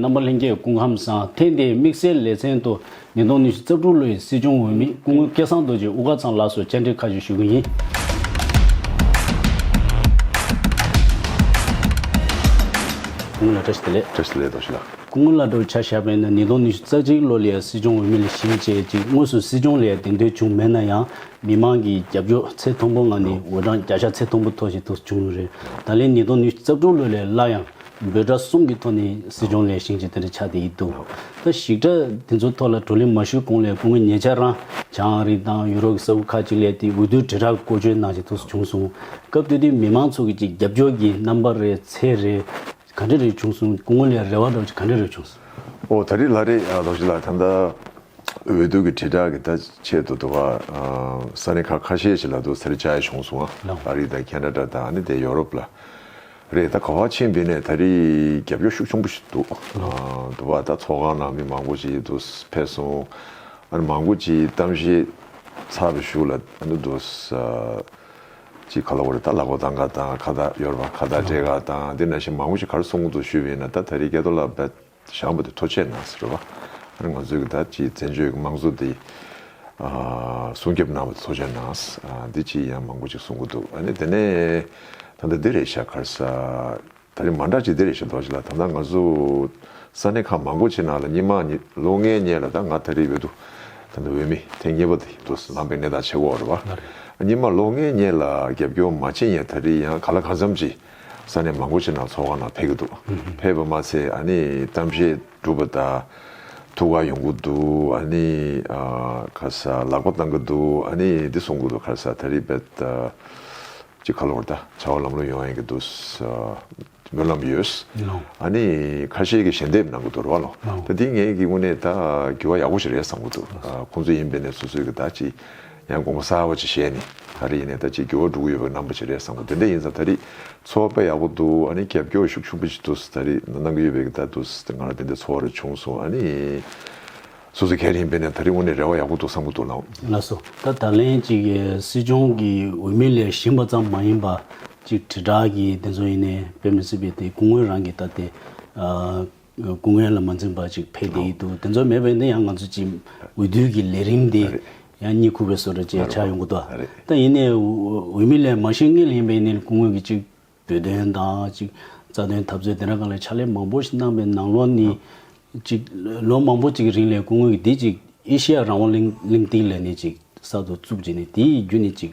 རྣམ་པ་ལྷན་རྒྱས་སྐུ་ཁམས་བཟང་ཐེངས་འདིའི་དམིགས་བསལ་ལེ་ཚན་དུ་ཉིས་སྟོང་ཉི་ཤུ་རྩ་དྲུག་ལོའི་སྲིད་སྐྱོང་འོས་མི་སྐུ་ངོ་སྐལ་བཟང་རྡོ་རྗེ་དབུ་དཀར་ཚང་ལགས་སུ་བཅར་འདྲི་ཁ་ཤས་ཞུ་གི་ཡིན། སྐུ་ངོ་ལ་བཀྲ་ཤིས་བདེ་ལེགས། བཀྲ་ཤིས་བདེ་ལེགས་རྡོ་རྗེ་ལགས། སྐུ་ངོ་ལ་བགྲོ་བྱ་བཞག་པའི་ནང་ཉིས་སྟོང་ཉི་ཤུ་རྩ་གཅིག་ལོ་ལའི་སྲིད་སྐྱོང་འོས་མི་ལས་གཞི་བྱས་རྗེས་དངོས་སུ་སྲིད་སྐྱོང་ལས་འདེམས་ཐོན་བྱུང་མེད་ན་ཡང་མི་དམངས་ཀྱི་རྒྱབ་སྐྱོར་ཚད་མཐོན་པོ་ངང་ནས་འོས་གྲངས་བརྒྱ་ཆ་ཚད་མཐོན་པོ་ཐོབ་བཞིན་དུ་བྱུང་ཡོད་རེད་ད་ལན་ཉིས་སྟོང་ཉི་ཤུ་རྩ་དྲུག་ལོ་ལས་སླར་ཡང་འབོད་སྒྲ་གསུམ་གྱི་ཐོག་ནས་སྲིད་སྐྱོང་ལས་བྱེད་ཅིག་དེ་འདྲ་ཆགས་བསྡད་ཡི་འདུག་ད་ཞིག་སྒྲ་དེ་ཚོའི་ཐོག་ལ་བགྲོ་གླེང་མ་ཞུས་གོང་ལས་ཁུངས་ཀྱི་ཉེ་ཆར་རང་བྱང་རིགས་དང་ཡུ་རོབ་ཀྱི་ས་ཁུལ་ཁག་ཅིག་ལས་དེའི་འོས་བསྡུའི་དྲིལ་བསྒྲགས་བཀོལ་སྤྱོད་གནང་བཞིན་ཐུགས་སུ་བྱུང་སོང། སྐབས་དེ་དུས་མི་མང་ཚོ་གིས་ཀྱི་རྒྱབ་སྐྱོར་གྱི་རྣམ་པ་རེ་ཚད་རེ་ག་འདྲ་རེ་བྱུང་སོང་སྐུ་ངོ་ལས་རེ་བ་འདྲ་བ་ཅིག་ག་འདྲ་རེ་བྱུང་སོང། ཨོ་ད་རེས་ལྷ་རེས་རྡོ་རྗེ་ལགས་ད་ལྟ་འོས་བསྡུ་གྱི་དྲིལ་བསྒྲགས་ཀྱི་ལྟ་ཆེད་དུ་དུ་བ་ས་གནས་ཁག་ཁ་ཤས་ཤིག་ལ་འདུག་ཟེར་བྱ་ཡ་བྱུང་སོང་ཨ་རི་དང་ཁྱེད་འདྲ་འདྲ་དང་ནི་དེ་ཡོ་རོབ་ལ། རེད་ད་ག་བ་ཆེན་འདི་ནས་ད་རེས་རྒྱབ་སྐྱོར་ཤུགས་ཆུང་པོ་ཞིག་འདུག་འདུག་བ་ད་ཚོགས་ཁང་ནང་མི་མང་པོ་ཞིག་འདུག་ཕེབས་སོང་ཨ་རེ་མང་པོ་ཅིག་གཏམ་བཤད་ཚར་བ་ཞུ་ལ་འདུག་འདུག་ཅིག་ག་ལ་བོར་ད་ལག་པ་དང་ག་དང་ཁ་བརྡ་གཡོར་བ་ཁ་བརྡ་སྤྲད་ག་དང་འདི་ན་ཞིག་མང་པོ་ཞིག་གར་སོང་འདུག་ཞུས་པ་ཡིན་ན་ད་ད་རེས་སྐལ་རྡོར་ལགས་ཞང་པོ་དེ་མཐོ་ཆས་ནང་ཟེར་བ། ང་ཚོའི་གདའ་སྐྱིད་བཙན་བྱོལ་གྱི་དམངས་གཙོ་དེ། སྲུང་སྐྱོབ་གནང་བ་དེ་མཐོ་ཆས་ནང། འདི་ཅིག་ཡང་མང་པོ་ཅིག་གསུང་གི་འདུག་ཨ་ནི་དེ་ནས། ད་ལྟ་བདེ་རེད་ཤག་ཁར་ས། ད་རིང་མ་འདྲ་ཅིག་བདེ་རེད་ཤག་འདོགས་ཅིག་ལ་ད་ལྟ་ང་ཚོ། ས་གནས་ཁག་མང་པོ་ཆེ་ནང་ལ་སྙིགས་མ་ནི་ལོ་ལྔའི་སྙེ་ལ་ད་ང་ད་རེ་ཡོད་དུ། ད་ལྟ་འོས་མི་ཐེངས་གཉིས་པ་དེ་འདུག་ལངས་པའི་གནས་སྟངས་ཆེ་བོ་རེད་བ། སྙིགས་མ་ལོ་ལྔའི་སྙེ་ལ་རྒྱབ་སྐྱོར་མ་བྱེད་ཡས་ད་རེ་ཡང་ག་ལ་གང་འཚམ་ཅིག། ས་གནས་མང་པོ་ཞིག་ནང་ཚོགས་ཁང་ནང་ཕེབས་ཀྱི་འདུག་ཕེབས་པ་མ་ཚད་ཨ་ནི་གཏམ་བཤད་སྒྲུབ་པ་དང། ཐུགས་ཁག་ཡོང་གི་འདུག་ཨ་ནི་ཁ་ས་ལག་པ་བཏང་གི་འདུག་ཨ་ནི་འདི་གསུང་གི་འདུག་ཁ་ས་ད་རིས་བེད་ཀྱི་ཁ་ལོར་ད་བྱ་བ་ལམ་ལོ་ཡོང་ཡིན་གྱི་འདུག་སྨོན་ལམ་ཡོད། ཨ་ནི་ཁ་ཤས་ཀྱི་ཞལ་འདེབས་གནང་གི་འདུག་ར་བ་ལོ་ད་འདི་ངེད་ཀྱི་དངོས་གནས་ད་གྱི་བ་ཡག་པོ་ཞིག་རེད་བསམ་གྱི་འདུག་ཁོང་ཚོ་ཡིན་པས་ནས་སོ་སོས་ཀྱི་ད་ཅི། ཡང་དགོངས་པ་གསར་བ་ཅིག་བཞེས་ནས་ད་རེས་ཡིན་ནའི་ད་ཅིག་འགྱུར་བ་འགྲོ་གི་ཡོད་པ་རྣམ་པ་ཅིག་རེད་བསམ་གོ་དེ་འདྲ་ཡིན་ཙང་ད་རེས་འཚོ་བ་དཔེ་ཡག་པོ་འདུག་ཨ་ནི་རྒྱབ་སྐྱོར་ཤུགས་ཆུང་པོ་ཅིག་འདུག་ད་རེས་གནང་གི་ཡོད་པའི་གདའ་འདུག་ང་རང་དེ་འདྲའི་འཚོ་བ་རེ་བྱུང་སོང་ཨ་ནི་སོ་སོ་གལ་ཡིན་པས་ནས་ད་རེས་དངོས་གནས་རེ་བ་ཡག་པོ་འདུག་བསམ་གི་འདུག་ལགས། ལགས་སོ། ད་ད་ལན་ཅིག་སྲིད་སྐྱོང་གི་འོས་མི་ལས་གཞན་པ་ཙམ་མ་ཡིན་པ་ཅིག་དྲིལ་བསྒྲགས་ཀྱི་དེ་ཚོ་ཡིན་ནའི་དཔེ་མི་སྲིད་པའི་དེ་སྐུ་ངོས་རང་གི་ད་དེ། སྐུ་ངལ་ལ་མ་འཛེམས་པ་ཅིག་ཕེབས་བསྡད་ཡོད་འདུག་དེ་ཚོ་མེད་པས་ན་ཡང་ང་ཚོ་ཀྱི་འོས་བསྡུའི་གི་ལས་རིམ་དེ་ཡང་གཉིད་ཁུག་པའི་སོ་ར་བཅས་ཆགས་ཡོང་གི་འདུག་ད་ཡིན་ནའི་འོས་མི་ལས་མ་ཤེས་ངེས་ལ་ཡིན་པས་ནི་སྐུ་ངོས་ཀྱི་ཅིག་བོད་དོན་དང་ཅིག་རྩ་དོན་འཐབ་རྩོད་དེ་འདྲ་ག་ལ་ཕྱག་ལས་མང་པོ་ཞིག་གནང་པའི་ནང་ལོགས་ནི་ཅིག་ལོ་མང་པོ་ཅིག་རིང་ལས་སྐུ་ངོས་ཀྱི་དེ་ཅིག་ཨེ་ཤེ་ཡ་རང་དབང་གླིང་གླིང་སྟེགས་ལས་ནི་ཅིག་གསར་དུ་བཙུགས་རྗེས་ནི་དེའི་རྒྱུ་ནི་ཅིག་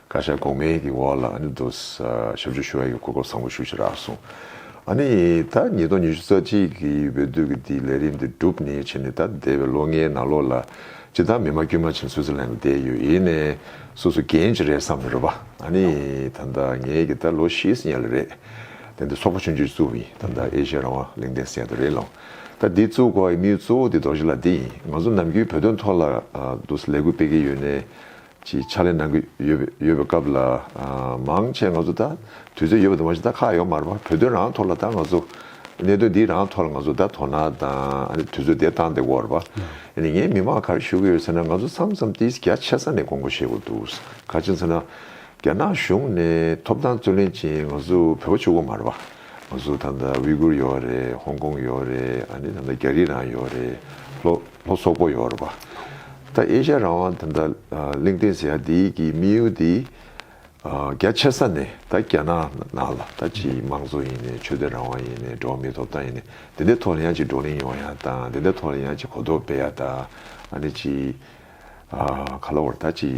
བཀའ་ཤག་གོང་མའི་གི་འོག་ལ་ཨ་ནི་དོ་ས་ཞབས་ཞུ་ཞུ་བ་ཡིན་གོ་སྐབས་བཟང་པོ་ཞུ་ཞེས་རག་གསུང། ཨ་ནི་ད་ཉིས་སྟོང་ཉི་ཤུ་རྩ་གཅིག་གི་འོས་བསྡུ་གི་དེའི་ལས་རིམ་དེ་བསྒྲུབས་ནས་ཕྱིན་ནས་ད་འདས་པའི་ལོ་ལྔའི་ནང་ལོགས་ལ་སྤྱི་བདག་མི་མ་དཀྱུས་མ་ཕྱིན་སུད་ཙི་ལན་ལ་བསྡད་ཡོད་ཡིན་ནས་སོ་སོ་འགན་ཅི་རེད་བསམ་ནས་རོ་པ་ཨ་ནི་ད་ད་ངའི་གི་ད་ལོ་བཞི་ཟིན་ཡ་ལ་རེད། དེ་འདི་ཚོགས་པ་ཆུང་ཆུང་ཞིག་བཙུགས་ཡིན་ད་ད་ཨེ་ཤ་ཡ་རང་དབང་ལིང་ཏན་སེ་ཡ་ད་རེད་ལོང། ད་འདི་བཙུགས་གོ་ཨེ་མི་གཙོ་བོ་འདི་དོ་ཞིག་ལ་འདི་ཡིན་ང་ཚོ་ནམ་རྒྱུན་བོད་དོན་ཐོག་ལ་དོ་ས་ལས་འགུལ་སྤེལ་གི་ཡོད་ནས་ཀྱི་ཕྱག་ལས་གནང་གི་ཡོད་པའི་སྐབས་ལ་མང་ཆེ་ང་ཚོ་ད་དུས་ཚོད་ཡོད་པ་དུ་མ་ཞིག་ད་ཁག་ཡོག་མར་བར་བོད་དོན་རང་ཐོག་ལ་ད་ང་ཚོ་གནད་དོན་འདི་རང་ཐོག་ལ་ང་ཚོ་ད་དོ་སྣང་དང་དུས་ཚོད་དེ་བཏང་དེ་བར་བ་ཡིན་ནས་ངས་མི་མང་གར་ཞུ་གི་ཡོད་ཟེར་ན་ང་ཚོ་མཚམས་མཚམས་ཏིས་རྒྱ་ཆེ་ས་ནས་དགོངས་མཁོ་བཞེས་དགོས་འདུག་ག་ཅིག་མཚོན་ན་རྒྱ་ནག་གཞུང་ནས་ཐོབ་ཐང་རྩོད་ལེན་ཅིང་ང་ཚོ་བོད་པ་ཕྱུག་པོ་མར་བ་ང་ཚོ་ད་དབྱི་གུར་ཡོག་རེད་ཧོང་ཀོང་ཡོག་རེད་ད་རྒྱ་རིགས་རང་ཡོག་རེད་ལྷོ། ལྷོ་སོག་པོ་ཡོར་བ། ད་ཨེ་ཤ་རང་དབང་དེ་འདྲ་གླིང་སྟེང་ཟེར་ཡ་དེ་གི་དམིགས་ཡུལ་དེ་རྒྱ་ཆེ་ས་ནས་ད་རྒྱ་ནག་ནང་ལ་ད་ཆེ་ཡི་དམངས་གཙོ་ཡིན་ནས་ཆོས་དད་རང་དབང་ཡིན་ནས་འགྲོ་བ་མིའི་ཐོབ་ཐང་ཡིན་ནས་དེ་འདྲའི་ཐོག་ལ་ཡང་ཅིག་བགྲོ་གླེང་ཡོང་ཡ་དང་དེ་འདྲའི་ཐོག་ལ་ཡང་ཅིག་གོ་རྟོགས་སྤེལ་ཡ་དང་ཨ་ནི་ཅིག། ག་ལ་བར་ད་ཅི་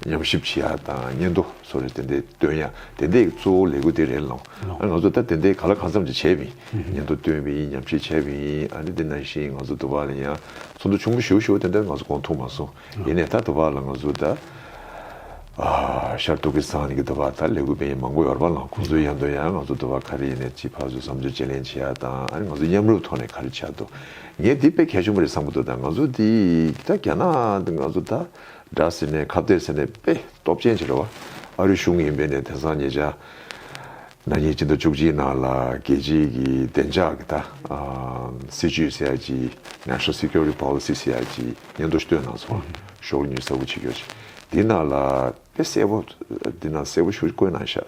ཉམས་ཞིབ་བྱེད་ཡག་དང་སྙན་ཐོ་སོགས་རེ་དེ་འད་སྟོན་ཡ་དེ་འད་གཙོ་བོ་ལས་གུ་དེ་རེད་ལོང་ཨ་ང་ཚོ་ད་དེ་འད་ག་ལ་གང་འཚམ་ཅིག་བྱས་བིན་སྙན་ཐོ་སྟོན་བིན་ཉམས་ཞིབ་བྱས་བིན་ཨ་རེ་དེ་ནང་བཞིན་ང་ཚོ་དུ་བ་ལ་ཡང་ཚོགས་འདུ་ཆུང་ངུ་ཞུ་ཞུ་དེ་འད་ང་ཚོ་གོང་ཐུག་མ་སོང་ཡེ་ནས་ད་དུ་བ་ལ་ང་ཚོ་ད་ཤར་ཏུ་ཀི་སང་ནི་གི་དུ་བ་ད་ལས་གུ་བེ་ཡན་མང་པོ་ཡོར་བ་ལོང་ཁོང་ཚོའི་ཡང་དོན་ཡང་ང་ཚོ་དུ་བ་ག་རེ་ཡེ་ནས་ཅི་ཕ་ཚོས་བསམ་ཚུལ་བཅད་ལེན་བྱེད་ཡག་དང་ཨ་རེ་ང་ཚོ་མཉམ་རུབ་ཐོག་ནས་ག་རེ་བྱ་དུ། ངས་འདི་དཔེ་གལ་ཆུང་བ་རེད་བསམ་གི་འདུག་ད་ང་ཚོ་འདི་ད་རྒྱ་ནག་འདི་ང་ཚོ་ད་དགྲ་ཟེར་ནས་ཁ་བསྡད་ཟེར་ནས་དཔེ་སྟོབས་ཅན་བྱེད་ར་བ་ཨ་རི་གཞུང་ཡིན་པས་ནས་དེང་སང་ཉེ་ཆར་ན་ཉིས་བཅུ་དང་བཅུ་གཅིག་ནང་ལ་རྒྱལ་སྤྱིའི་གི་བདེ་འཇགས་གི་ད་སྲིད་ཇུས་ཟེར་ཡ་ཇི National Security Policy ཟེར་ཡ་ཇི་སྙན་ཐོ་བཏོན་གནང་སོང་ཤོག་ལ་ཉུས་གསལ་བོ་བྱེད་ཀྱོ་ཅིག་འདི་ནང་ལ་དཔེ་གསལ་བོ་འདི་ནང་གསལ་བོ་ཤོག་ཅིག་བཀོད་གནང་ཤག།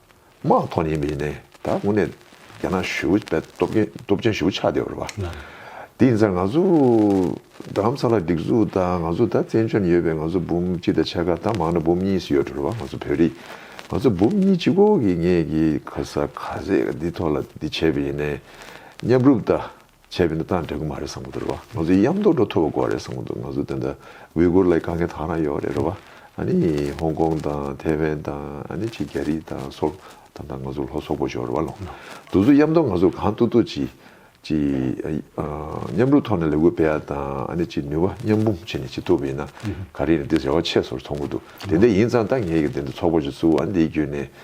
དམག་ཐོག་ཉེན་མི་ནས་ད་དངོས་གནས་རྒྱ་ནག་ཞུ་བའི་སྟོབས་ཆེན་ཞུ་ཆགས་བསྡད་པ་རེད་པ། དེ་ཡིན་ཚར་ང་ཚོ་རྡ་རམ་ས་ལ་སྒྲིག་འཛུགས་དང་ང་ཚོ་ད་བཙན་བྱོལ་ནས་ཡོད་པའི་ང་ཚོ་འབུམ་གཅིག་དང་ཕྱེད་ཀ་ད་མང་ན་འབུམ་གཉིས་སུ་ཡོད་འགྲོ་རེད་པ་ང་ཚོ་བོད་རིགས་ང་ཚོ་འབུམ་གཉིས་གཅིག་གོ་གི་ངེད་ཀྱིས་ག་ས་ག་ཟེ་འདི་ཐོག་ལ་འདི་བྱས་པ་ཡིན་ནས་མཉམ་རུབ་ད། བྱས་པའི་འདི་དག་འགྲིག་གི་མ་རེད་བསམ་གྱི་འདུག་རེད་བ། ང་ཚོའི་གཡམ་རྡོག་འགྲོ་ཐུབ་པ་དགོས་རེད་བསམ་གྱི་འདུག་ང་ཚོ་དེ་འདྲ་ཝི་གུར་ལ་དཀའ་ངལ་དག་རང་ཡོད་རེད་རེད་བ། ཨ་ནི་ཧོང་ཀོང་དང་ཐེ་ཝན་དང་ཨ་ནི་ཆེ་རྒྱ་རིགས་དང་སོགས་དང་དང་ང་ཚོ་ལྷོ་སོག་པོ་ཞོག་རེད་བ་ལོ། འདུག་ཚོ་གཡམ་རྡོག་ང་ཚོ་གང་ཐུག་ཐུག་ཅིག་ཅིག་མཉམ་རུབ་ཐོག་ནས་ལས་འགུལ་སྤེལ་ཡ་དང་ཨ་ནི་ཅིག་ནུས་བ་མཉམ་སྤུངས་བྱེད་ནས་བྱེད་ཐུབ་པ་ཡིན་ན་ག་རེ་ཡིན་དེ་རེ་བ་ཆེ་སོར་མཐོང་གྱི་འདུག་དེ་འད་ཡིན་ཙང་ད་ངས་ཀྱི་དེ་འདྲ་ཚོགས་པ་ཞིག་བཙུགས་ཨ་ནི་དེའི་རྒྱུད་ནས་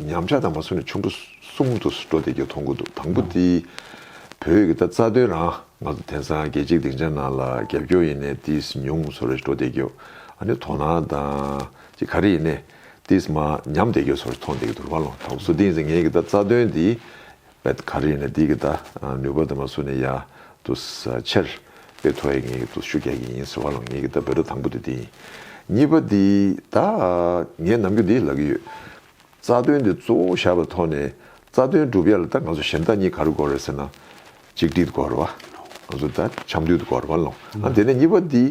ཉམས་ཆག་དང་མ་སུ་ནི་ཆུང་དུ་གསུམ་དུ་འགྲོ་བསྡད་རྒྱུ་མཐོང་གི་འདུག་དང་པོ་དེ་བོད་ཡིག་གི་ད་རྩ་དོན་རང་ང་ཚོ་དེང་སང་རྒྱལ་སྤྱིའི་སྡིངས་ཆ་ནང་ལ་རྒྱབ་སྐྱོར་ཡིན་ནའི་ཏིས་ཉུང་ཚོར་རེ་ཞིག་འགྲོ་བསྡད་རྒྱུ་ཨ་ནི་དོ་སྣང་དང་ཅི་ག་རེ་ཡིན་ནའི་ཏིས་མ་ཉམས་བསྡད་རྒྱུ་ཚོར་ཞིག་མཐོང་བསྡད་ཀྱི་འདུག་ར་བ་ལོ་དང་པོ་སུ་དེང་སང་ངའི་ཡིག་གི་ད་རྩ་དོན་དེ་ཨད་ག་རེ་ཡིན་ན་དེ་གི་ད་ནུས་པ་དེ་མ་སུ་ནས་ཡ་ཏུ་ཆེར་པེ་ཐོ་ཡེ་ངེད་གི་ཏུ་ཤུ་རྒྱག་གི་ཡིན་ཟེར་བ་ལོ་ངེད་གི་ད་བོད་ར་དང་པོ་དེ་དེ་ཡིན་གཉིས་པ་དེ་ད་ངས་ནམ་རྒྱུན་དེ་ལ་གི་ཡོད་རྩ་དོན་དེ་གཙོ་བོ་བཞག་པའི་ཐོག་ནས་རྩ་དོན་སྒྲུབ་ཡ་ལ་ད་ང་ཚོ་ཞེན་ད་གཉིས་ག་རུ་གོ་རེ་ཟེར་ན་གཅིག་སྒྲིལ་དགོ་རུ་བ་ང་ཚོ་ད་ཆམ་དུལ་དུ་གོ་རུ་བ་ལོ་ཨ་དེ་ནས་གཉིས་པ་དེ་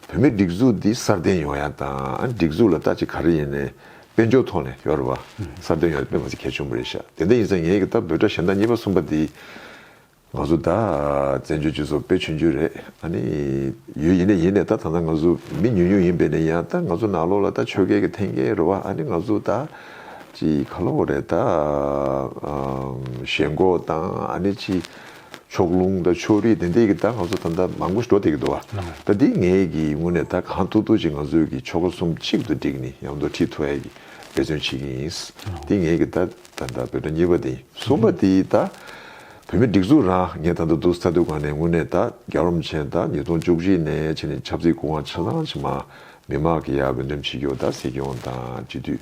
བོད་མི་སྒྲིག་འཛུགས་དེ་སར་བརྟེན་ཡོང་ཡ་ད་ཨ་སྒྲིག་འཛུགས་ལ་ད་ཅིག་ག་རེ་ཡིན་ནས་དཔལ་འབྱོར་ཐོག་ནས་ཡོ་རོབ་པ་གསར་འདེམས་ཡོང་རྒྱུ་དཔེ་མ་ཚད་གལ་ཆུང་པོ་རེད་ཤག་དེ་འད་ཡིན་ཚ་ངེད་ཀྱི་ལྟ་བུ་དགྲ་ཞན་དག་གཉིས་པ་གསུམ་པ་འདིས་ང་ཚོ་དག་བཙན་བྱོལ་སྤྱི་ཚོགས་དཔེ་ཆུང་རྒྱུ་རེད་ཨ་ནི་ཡོད་ཡིན་ནས་ཡིན་ནས་ད་ད་ང་ཚོ་མི་ཉུང་ཉུང་ཡིན་པས་ནས་ཡང་དག་ང་ཚོ་ནག་ལོག་ལ་དག་ཆོལ་ཁའི་གི་ཐེན་ཀའི་རོ་བ་ཨ་ནི་ང་ཚོ་དག་ཅི་ག་ལོག་རེད་དག་ཞེན་ཁོག་དང་ཨ་ནི་ཅི། ཕྱོགས་ལྷུང་དང་ཕྱོགས་རིས་དེ་འདྲས་ཀྱིས་ད་ང་ཚོ་ད་ལྟ་མང་པོ་འགྲོ་བསྡད་ཀྱི་འདུག་ད་འདི་ངས་ཀྱི་ངོས་ནས་ད་གང་ཐུག་ཐུག་ཅིག་ང་ཚོས་ཀྱི་ཕྱོགས་གསུམ་གཅིག་ཏུ་བསྒྲིགས་ནས་ཡང་འདུ་འཁྲིད་ཐུ་ཨའི་ཀྱི་འབད་བརྩོན་བྱེད་ཀྱི་ཡིན། འདི་ངས་ཀྱི་ད་ད་ལྟ་བོད་དོན་གཉིས་པ་དེ་ཡིན་གསུམ་པ་དེ་ད་བོད་མི་སྒྲིག་འཛུགས་རང་ངས་ད་ལྟ་འདུག་ས་དུས་གང་ནས་ངོས་ནས་ད་རྒྱ་རོམ་ཆེན་ད་ཉིས་སྟོང་བཅུ་བཞི་ནས་ཕྱི་ནས་ཆབ་སྲིད་སྐུ་དབང་ཆ་ཚང་ཕྱི་མ་མི་མང་གི་ཡ་བོད་དོན་ཕྱི་རྒྱུག་ད་སྲིད་སྐྱོང་དང་སྤྱི་འཐུས་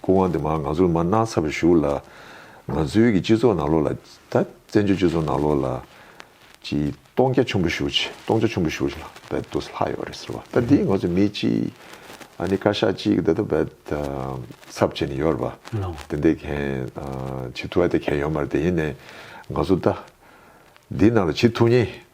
སྐུ་དབང་དེ་མ་ང་ཚོར་མ་གནང་ཚར་བར་བཞུགས་ལ། ང་ཚོའི་གི་སྤྱི་ཚོགས་ནང་ལོགས་ལ། ད་བཙན་བྱོལ་སྤྱི་ཚོགས་ནང་ལོགས་ལ། གི་སྟོང་རྒྱ་ཆུན་པོ་བཞུགས་ཆེ་སྟོང་རྒྱ་ཆུན་པོ་བཞུགས་ལ་བད་དུ་ལྷག་ཡོད་རེད་ཟེར་བ་ད་འདི་ང་ཚོ་མི་གཅིག་ཨ་ནི་བཀའ་ཤག་གཅིག་གི་ད་བད་ད་ཚབ་བྱས་ནས་ཡོད་རེད་པ། དེ་འད་གན་བྱེད་ཐུ་བ་དེ་གན་ཡོད་མ་རེད་དེ་ཡིན་ནས་ང་ཚོ་ད་འདི་ནང་ལ་བྱེད་ཐུ་ངེས་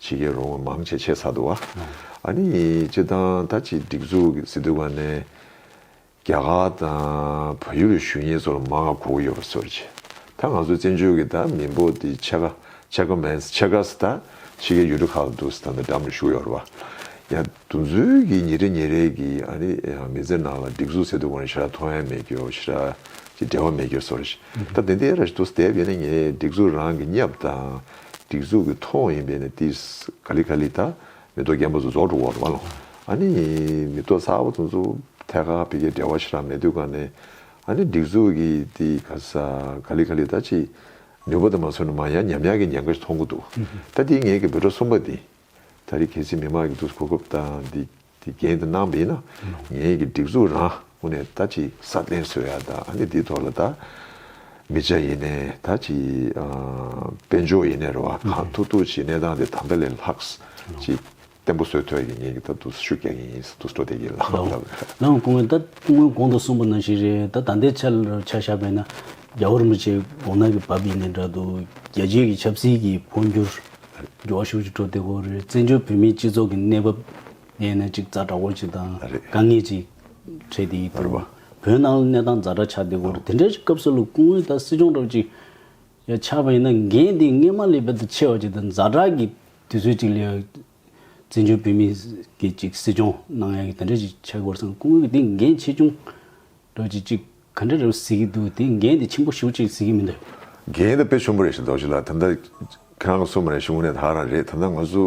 བྱེད་ཀྱི་རུང་བ་མང་ཆེ་ཆེ་ས་འདུག་ཨ་ནི་སྤྱི་བཏང་ད་ཆེ་སྒྲིག་འཛུགས་ཀྱི་སྲིད་དུ་བ་ནས་རྒྱ་གར་དང་བ་ཡུ་རུ་ཞུ་ཉེ་ཚོ་ལ་མ་ག་གོ་གི་ཡོད་པ་སོར་ཆེ་ད་ང་ཚོ་བཙན་བྱོལ་གྱི་ད་མི་འབོ་དེ་ཆེ་ག་ཆེ་ག་མེན་ཆེ་ག་ས་ད་ཆེ་གའི་ཡུ་རུ་ཁག་འདུག་ས་ད་འདྲ་མ་ཞུ་ཡོར་བ་ཡང་དུ་འཛུལ་གྱི་ཉེ་རེ་ཉེ་རེ་གི་ཨ་ནི་མི་ཚེ་ནང་ལ་སྒྲིག་འཛུགས་སྲིད་དུ་བ་ནས་ཤི་ར་ཐོ་ཡང་མེད་ཀྱི་ཡོ་ཤི་ར་ཅི་འབྲེལ་བ་མེད་ཀྱི་ཡོ་སོར་ཆེ་ད་དེ་འདི་ཨེ་ར་ཞུ་དུ་ས་དེ་བས་ནས་ངས་སྒྲིག་འཛུགས་རང་གི་གཉབ་དང་སྒྲིག་འཛུགས་ཀྱི་ཐོག་ཡིན་པས་ནི་ཏིས་ག་ལི་ག་ལི་དང་མེ་ཏོག་རྒྱ་མོ་ཚོ་རྫོགས་འགྲོ་བར་མ་ལོ། ཨ་ནི། མེ་ཏོག་ཚ་བོ་ཚོ་ཚོ་ཐད་ཀར་བོད་རྒྱའི་འབྲེལ་བ་ཆེ་རང་མེད་དུས་ག་ནས། ཨ་ནི་སྒྲིག་འཛུགས་ཀྱིས་ཏིས་ག་ལི་ག་ལི་དང་ཅིག། ནུས་པ་དང་མ་མཚོན་ན་མང་ཡང་ཉམས་ཡག་གི་ཉེན་ཁ་ཞིག་མཐོང་གི་འདུག་ད་ཏིས་ངེད་ཀྱི་འབོད་སྒྲ་གསུམ་པ་འདི། ད་རེས་གལ་སྲིད་མི་མང་གིས་ཏིས་གོ་སྐབས་དང་ཏིས། དེ་རྒྱན་དུ་གནང་བས་ན་ངེད་ཀྱི་སྒྲིག་འཛུགས་རང་ངོ་ནས་ད་ཅི་ས་བརྟན་བཟོ་ཡག་དང་ཨ་ནི་འདི་ཐོག་ལ་ད་མི་བྱ་ཡིན་ནའི་ད་ཅི་དཔལ་འབྱོར་ཡིན་ནའི་རེ་བ་གང་ཐུག་ཐུག་བྱེད་གནས་སྟངས་དེ་ད་ལྟ་ལས་ལྷག་ཅིག་བརྟན་པོ་བཟོས་ཐོག་གི་ངེད་ཀྱི་ད་དུ་ཤུགས་རྒྱག་གིན་ཡིན་ས་དུ་སྤྲོ་བསྡད་ཀྱིན་ལགས། ལའང་སྐུ་ངོས་ད་སྐུ་ངོས་གོང་དུ་གསུངས་པ་ནང་བཞིན་རེད་ད་ད་ལྟའི་ཆར་ཆ་བཞག་པས་ན་རྒྱ་བོར་མི་བྱེད་གོང་ན་གི་བབ་ཡིན་ནའི་འདྲ་འདུག་རྒྱལ་སྤྱིའི་གི་ཆབ་སྲིད་ཀྱི་འཕོ་འགྱུར། འགྲོ་བ་ཤུགས་ཀྱིས་འགྲོ་བདེ་བོ་རེད། བཙན་བྱོལ་བོད་མིའི་སྤྱི་ཚོགས་ཀྱི་གནས་བབ་ངས་ནས་ཅིག་རྩ་དྲག་པོ་ཅིག་དང་དཀའ་ངལ་ཅིག་འཕྲད་དེ་ཡི་ཐུག་པ། བོད་ནང་གླེ་གནས་སྟངས་རྫ་དྲ་ཆགས་བདེ་བོ་རེད་དེ་འདྲའི་སྐབས་སུ་ལུགས་སྐུ་ངོས་དང་སྲིད་སྐྱོང་གྲོགས་ཅིག་ཡ་ཆགས་པ་ཡིན་ན་འགན་དེ་ངས་མ་ལས་པད་དུ་ཆེ་བ་ཅིག་དང་རྫ་དྲག་གི་དུས་ཚོད་ཅིག་ལས་བཙན་བྱོལ་བོད་མིའི་གི་ཅིག་སྲིད་སྐྱོང་གནང་ཡ་གི་དེ་འདྲ་ཅིག་ཆགས་དགོས་བསམ་སྐུ་ངོས་ཀྱི་དེ་འགན་ཆེ་ཆུང་རྡོ་རྗེ་གཅིག་ག་འདྲ་རེད་བཟི་གི་འདུག་དེ་འགན་དེ་ཆེན་པོ་ཞུ་གཅིག་བཟི་གི་མི་འདུག། འགན་དེ་དཔེ་ཆུང་པོ་རེད་ཞིག་འདུག་ཅི་ལ་ད་ལྟ་ཁྱེད་རང་གི་སོ་མ་རེད་ཞུ་གི་ནས་ད་རང་རེད་ད་ལྟ་ང་ཚོ་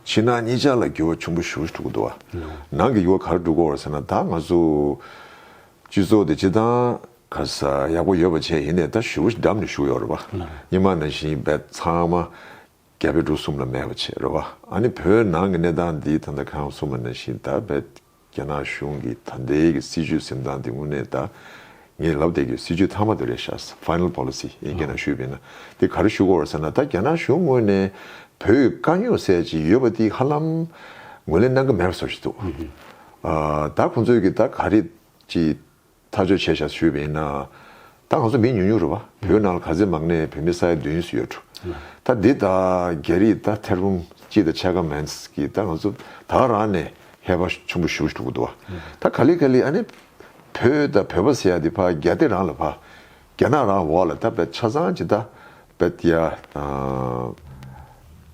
ཕྱི་ནང་གཉིས་ཆ་ལ་འགྱུར་བ་ཆུང་པོ་ཞུ་ཞུ་ཐུག་གི་འདུག་བ། ནང་གི་འགྱུར་བ་ག་རེ་འགྲོ་གི་འོ་ཟེར་ན་ད་ང་ཚོ་སྤྱི་ཚོགས་དེ་སྤྱི་སྟངས་ག་ས་ཡག་པོ་ཡོད་པ་བྱས་ཡིན་ནས་ད་ཞུ་བོ་ཞིག་འགྲམ་ནས་ཞུ་ཡོད་རེད་བ། གཉིས་མ་ནང་བཞིན་བས་ཚང་མ་རྒྱ་བལ་འབྲུག་གསུམ་ལ་མེད་པ་བྱས་རེད་བ། ཨ་ནི་བོད་ནང་གི་གནས་སྟངས་འདི་ད་ལྟ་ཁྱེད་རང་གི་སོ་མ་ནང་བཞིན་ད་བས། རྒྱ་ནག་གཞུང་གི་ད་ལྟའི་གི་སྲིད་བྱུས་གཟེངས་སྟངས་དེ་དངོས་གནས་ད་ངས་ལབ་སྟེ་གི་སྲིད་བྱུས་མཐའ་མ་དེ་རེད་ཤག Final Policy ཡིན་རྒྱ་ནག་གཞུས་བས་ན་དེ་ག་རེ་བཞུགས་དགོས་རེད་ཟེར་ན་ད་རྒྱ་ནག་གཞུང་དངོས་གནས་བོད་དཀའ་རྙོག་སེལ་ཅིག་ཡོད་པ་དེ་ཧ་ལམ་ངོས་ལེན་གནང་གི་མེད་པ་བཟོ་བཞིན་འདུག་ད་ཁོང་ཚོས་གི་ད་ག་རེ་ཅིག་ཐག་གཅོད་བྱས་བཞག་ཞུས་པ་ཡིན། ད་ང་ཚོ་མི་ཉུང་ཉུང་རེ་བ་བོད་ནང་ལ་ག་ཚད་མང་ནས་བོད་མི་ས་ཡ་བདུན་སུ་ཡོད་འགྲོ། ད་འདི་ད་རྒྱ་རིགས་ད་ཐེར་འབུམ་གཅིག་ད་ཕྱེད་ཀ་མན་གྱི་ད་ང་ཚོ་ད་རང་ནས་ཧེ་བག་ཆུང་པོ་ཞུ་ཐུབ་ཀྱི་འདུག་བ། ད་ག་ལི་ག་ལི་ཨ་ནི་བོད་ད་བོད་པ་ཟེར་ཡག་འདི་ཕ་རྒྱ་སྟེ་རང་ལ་ཕ། རྒྱ་ནག་རང་འོག་ལ་ད་བལ་ཆ་ཚང་ཇི་ལྟ་བལ་ཏེ་ཡ་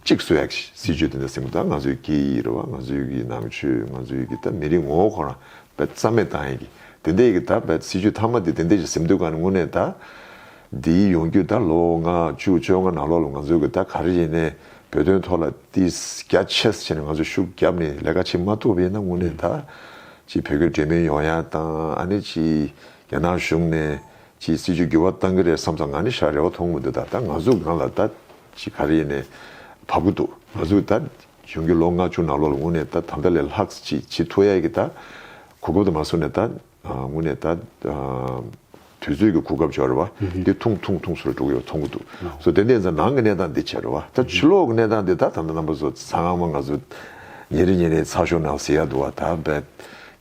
གཅིག་གསོད་ཡག་སྲིད་ཇུས་དེ་འདྲ་སྲིད་མོ་ད་ང་ཚོའི་སྐད་ཡིག་རེད་བ་ང་ཚོའི་གི་ནང་ཆོས་ང་ཚོའི་གི་ད་མི་རིགས་ངོ་བོ་ཁོ་རང་བལ་རྩ་མེད་བཏང་ཡག་གི་དེ་འདྲ་ཡག་གི་ད་བལ་སྲིད་ཇུས་མཐའ་མ་དེ་དེ་འདྲ་ཞིག་སྲིད་འདུག་ག་ནི་དངོས་གནས་ད་འདིའི་ཡོང་རྒྱུ་ད་ལོ་ང་བཅུ་བཅོ་ལྔ་ནང་ལོག་ལ་ང་ཚོའི་གི་ད་ག་རེ་ཡིན་ནའི་བོད་དོན་ཐོག་ལ་ཏིས་རྒྱ་ཆེས་བྱས་ནས་ང་ཚོ་ཤུགས་རྒྱབ་ནི་ལས་ཀ་བྱེད་མ་ཐུབ་པ་ཡིན་ན་དངོས་གནས་ད་ཅིག་བོད་གི་འབྲེལ་མེད་ཡོང་ཡག་བཏང་ཨ་ནི་ཅིག་རྒྱ་ནག་གཞུང་ནས་ཕྱིའི་སྲིད་ཇུས་འགྱུར་བ་གཏང་གི་རེད་བསམ་ཙང་ང་ནི་ཧྲ་རེ་བ་མཐོང་མི་འདུག་ད་ལྟ་ང་གཟུགས་སྒང་ལ་ད་ཅི་ག་རེ་ནས་བབ་ཀི་འདུག་ང་གཟུགས་ད་གཞུང་གི་ལོ་ལྔ་བཅུ་ནང་ལོག་ལ་ངུ་ནས་ད་ད་ལྟ་ལས་ལྷག་ཅིག་བྱེད་ཐུ་ཡས་ཀི་ད་གོ་སྐབས་དུ་མ་བཟུང་ནས་ད་ངུ་ནས་ད་དུས་ཚོད་ཀི་གོ་སྐབས་བྱོ་རེ་བ་འདི་ཐུང་ཐུང་ཐུང་སུ་རེ་འགྲོ་གི་ཡོད་བ་མཐོང་གི་འདུག་བཟོ་དེ་འདས་ཙང་ནང་གི་གནས་སྟངས་འདི་བྱེད་རེ་བ་ད་ཕྱི་ལོག་གི་གནས་སྟངས་འདི་ད་ད་ནམ་པ་བཟོ་ཙང་ང་གཟུགས་ཉེ་རེ་ཉེ་རེ་ཚགས་ཤོག་ནང་ཟེར་ཡ་འདུག་བ་ད་བལ་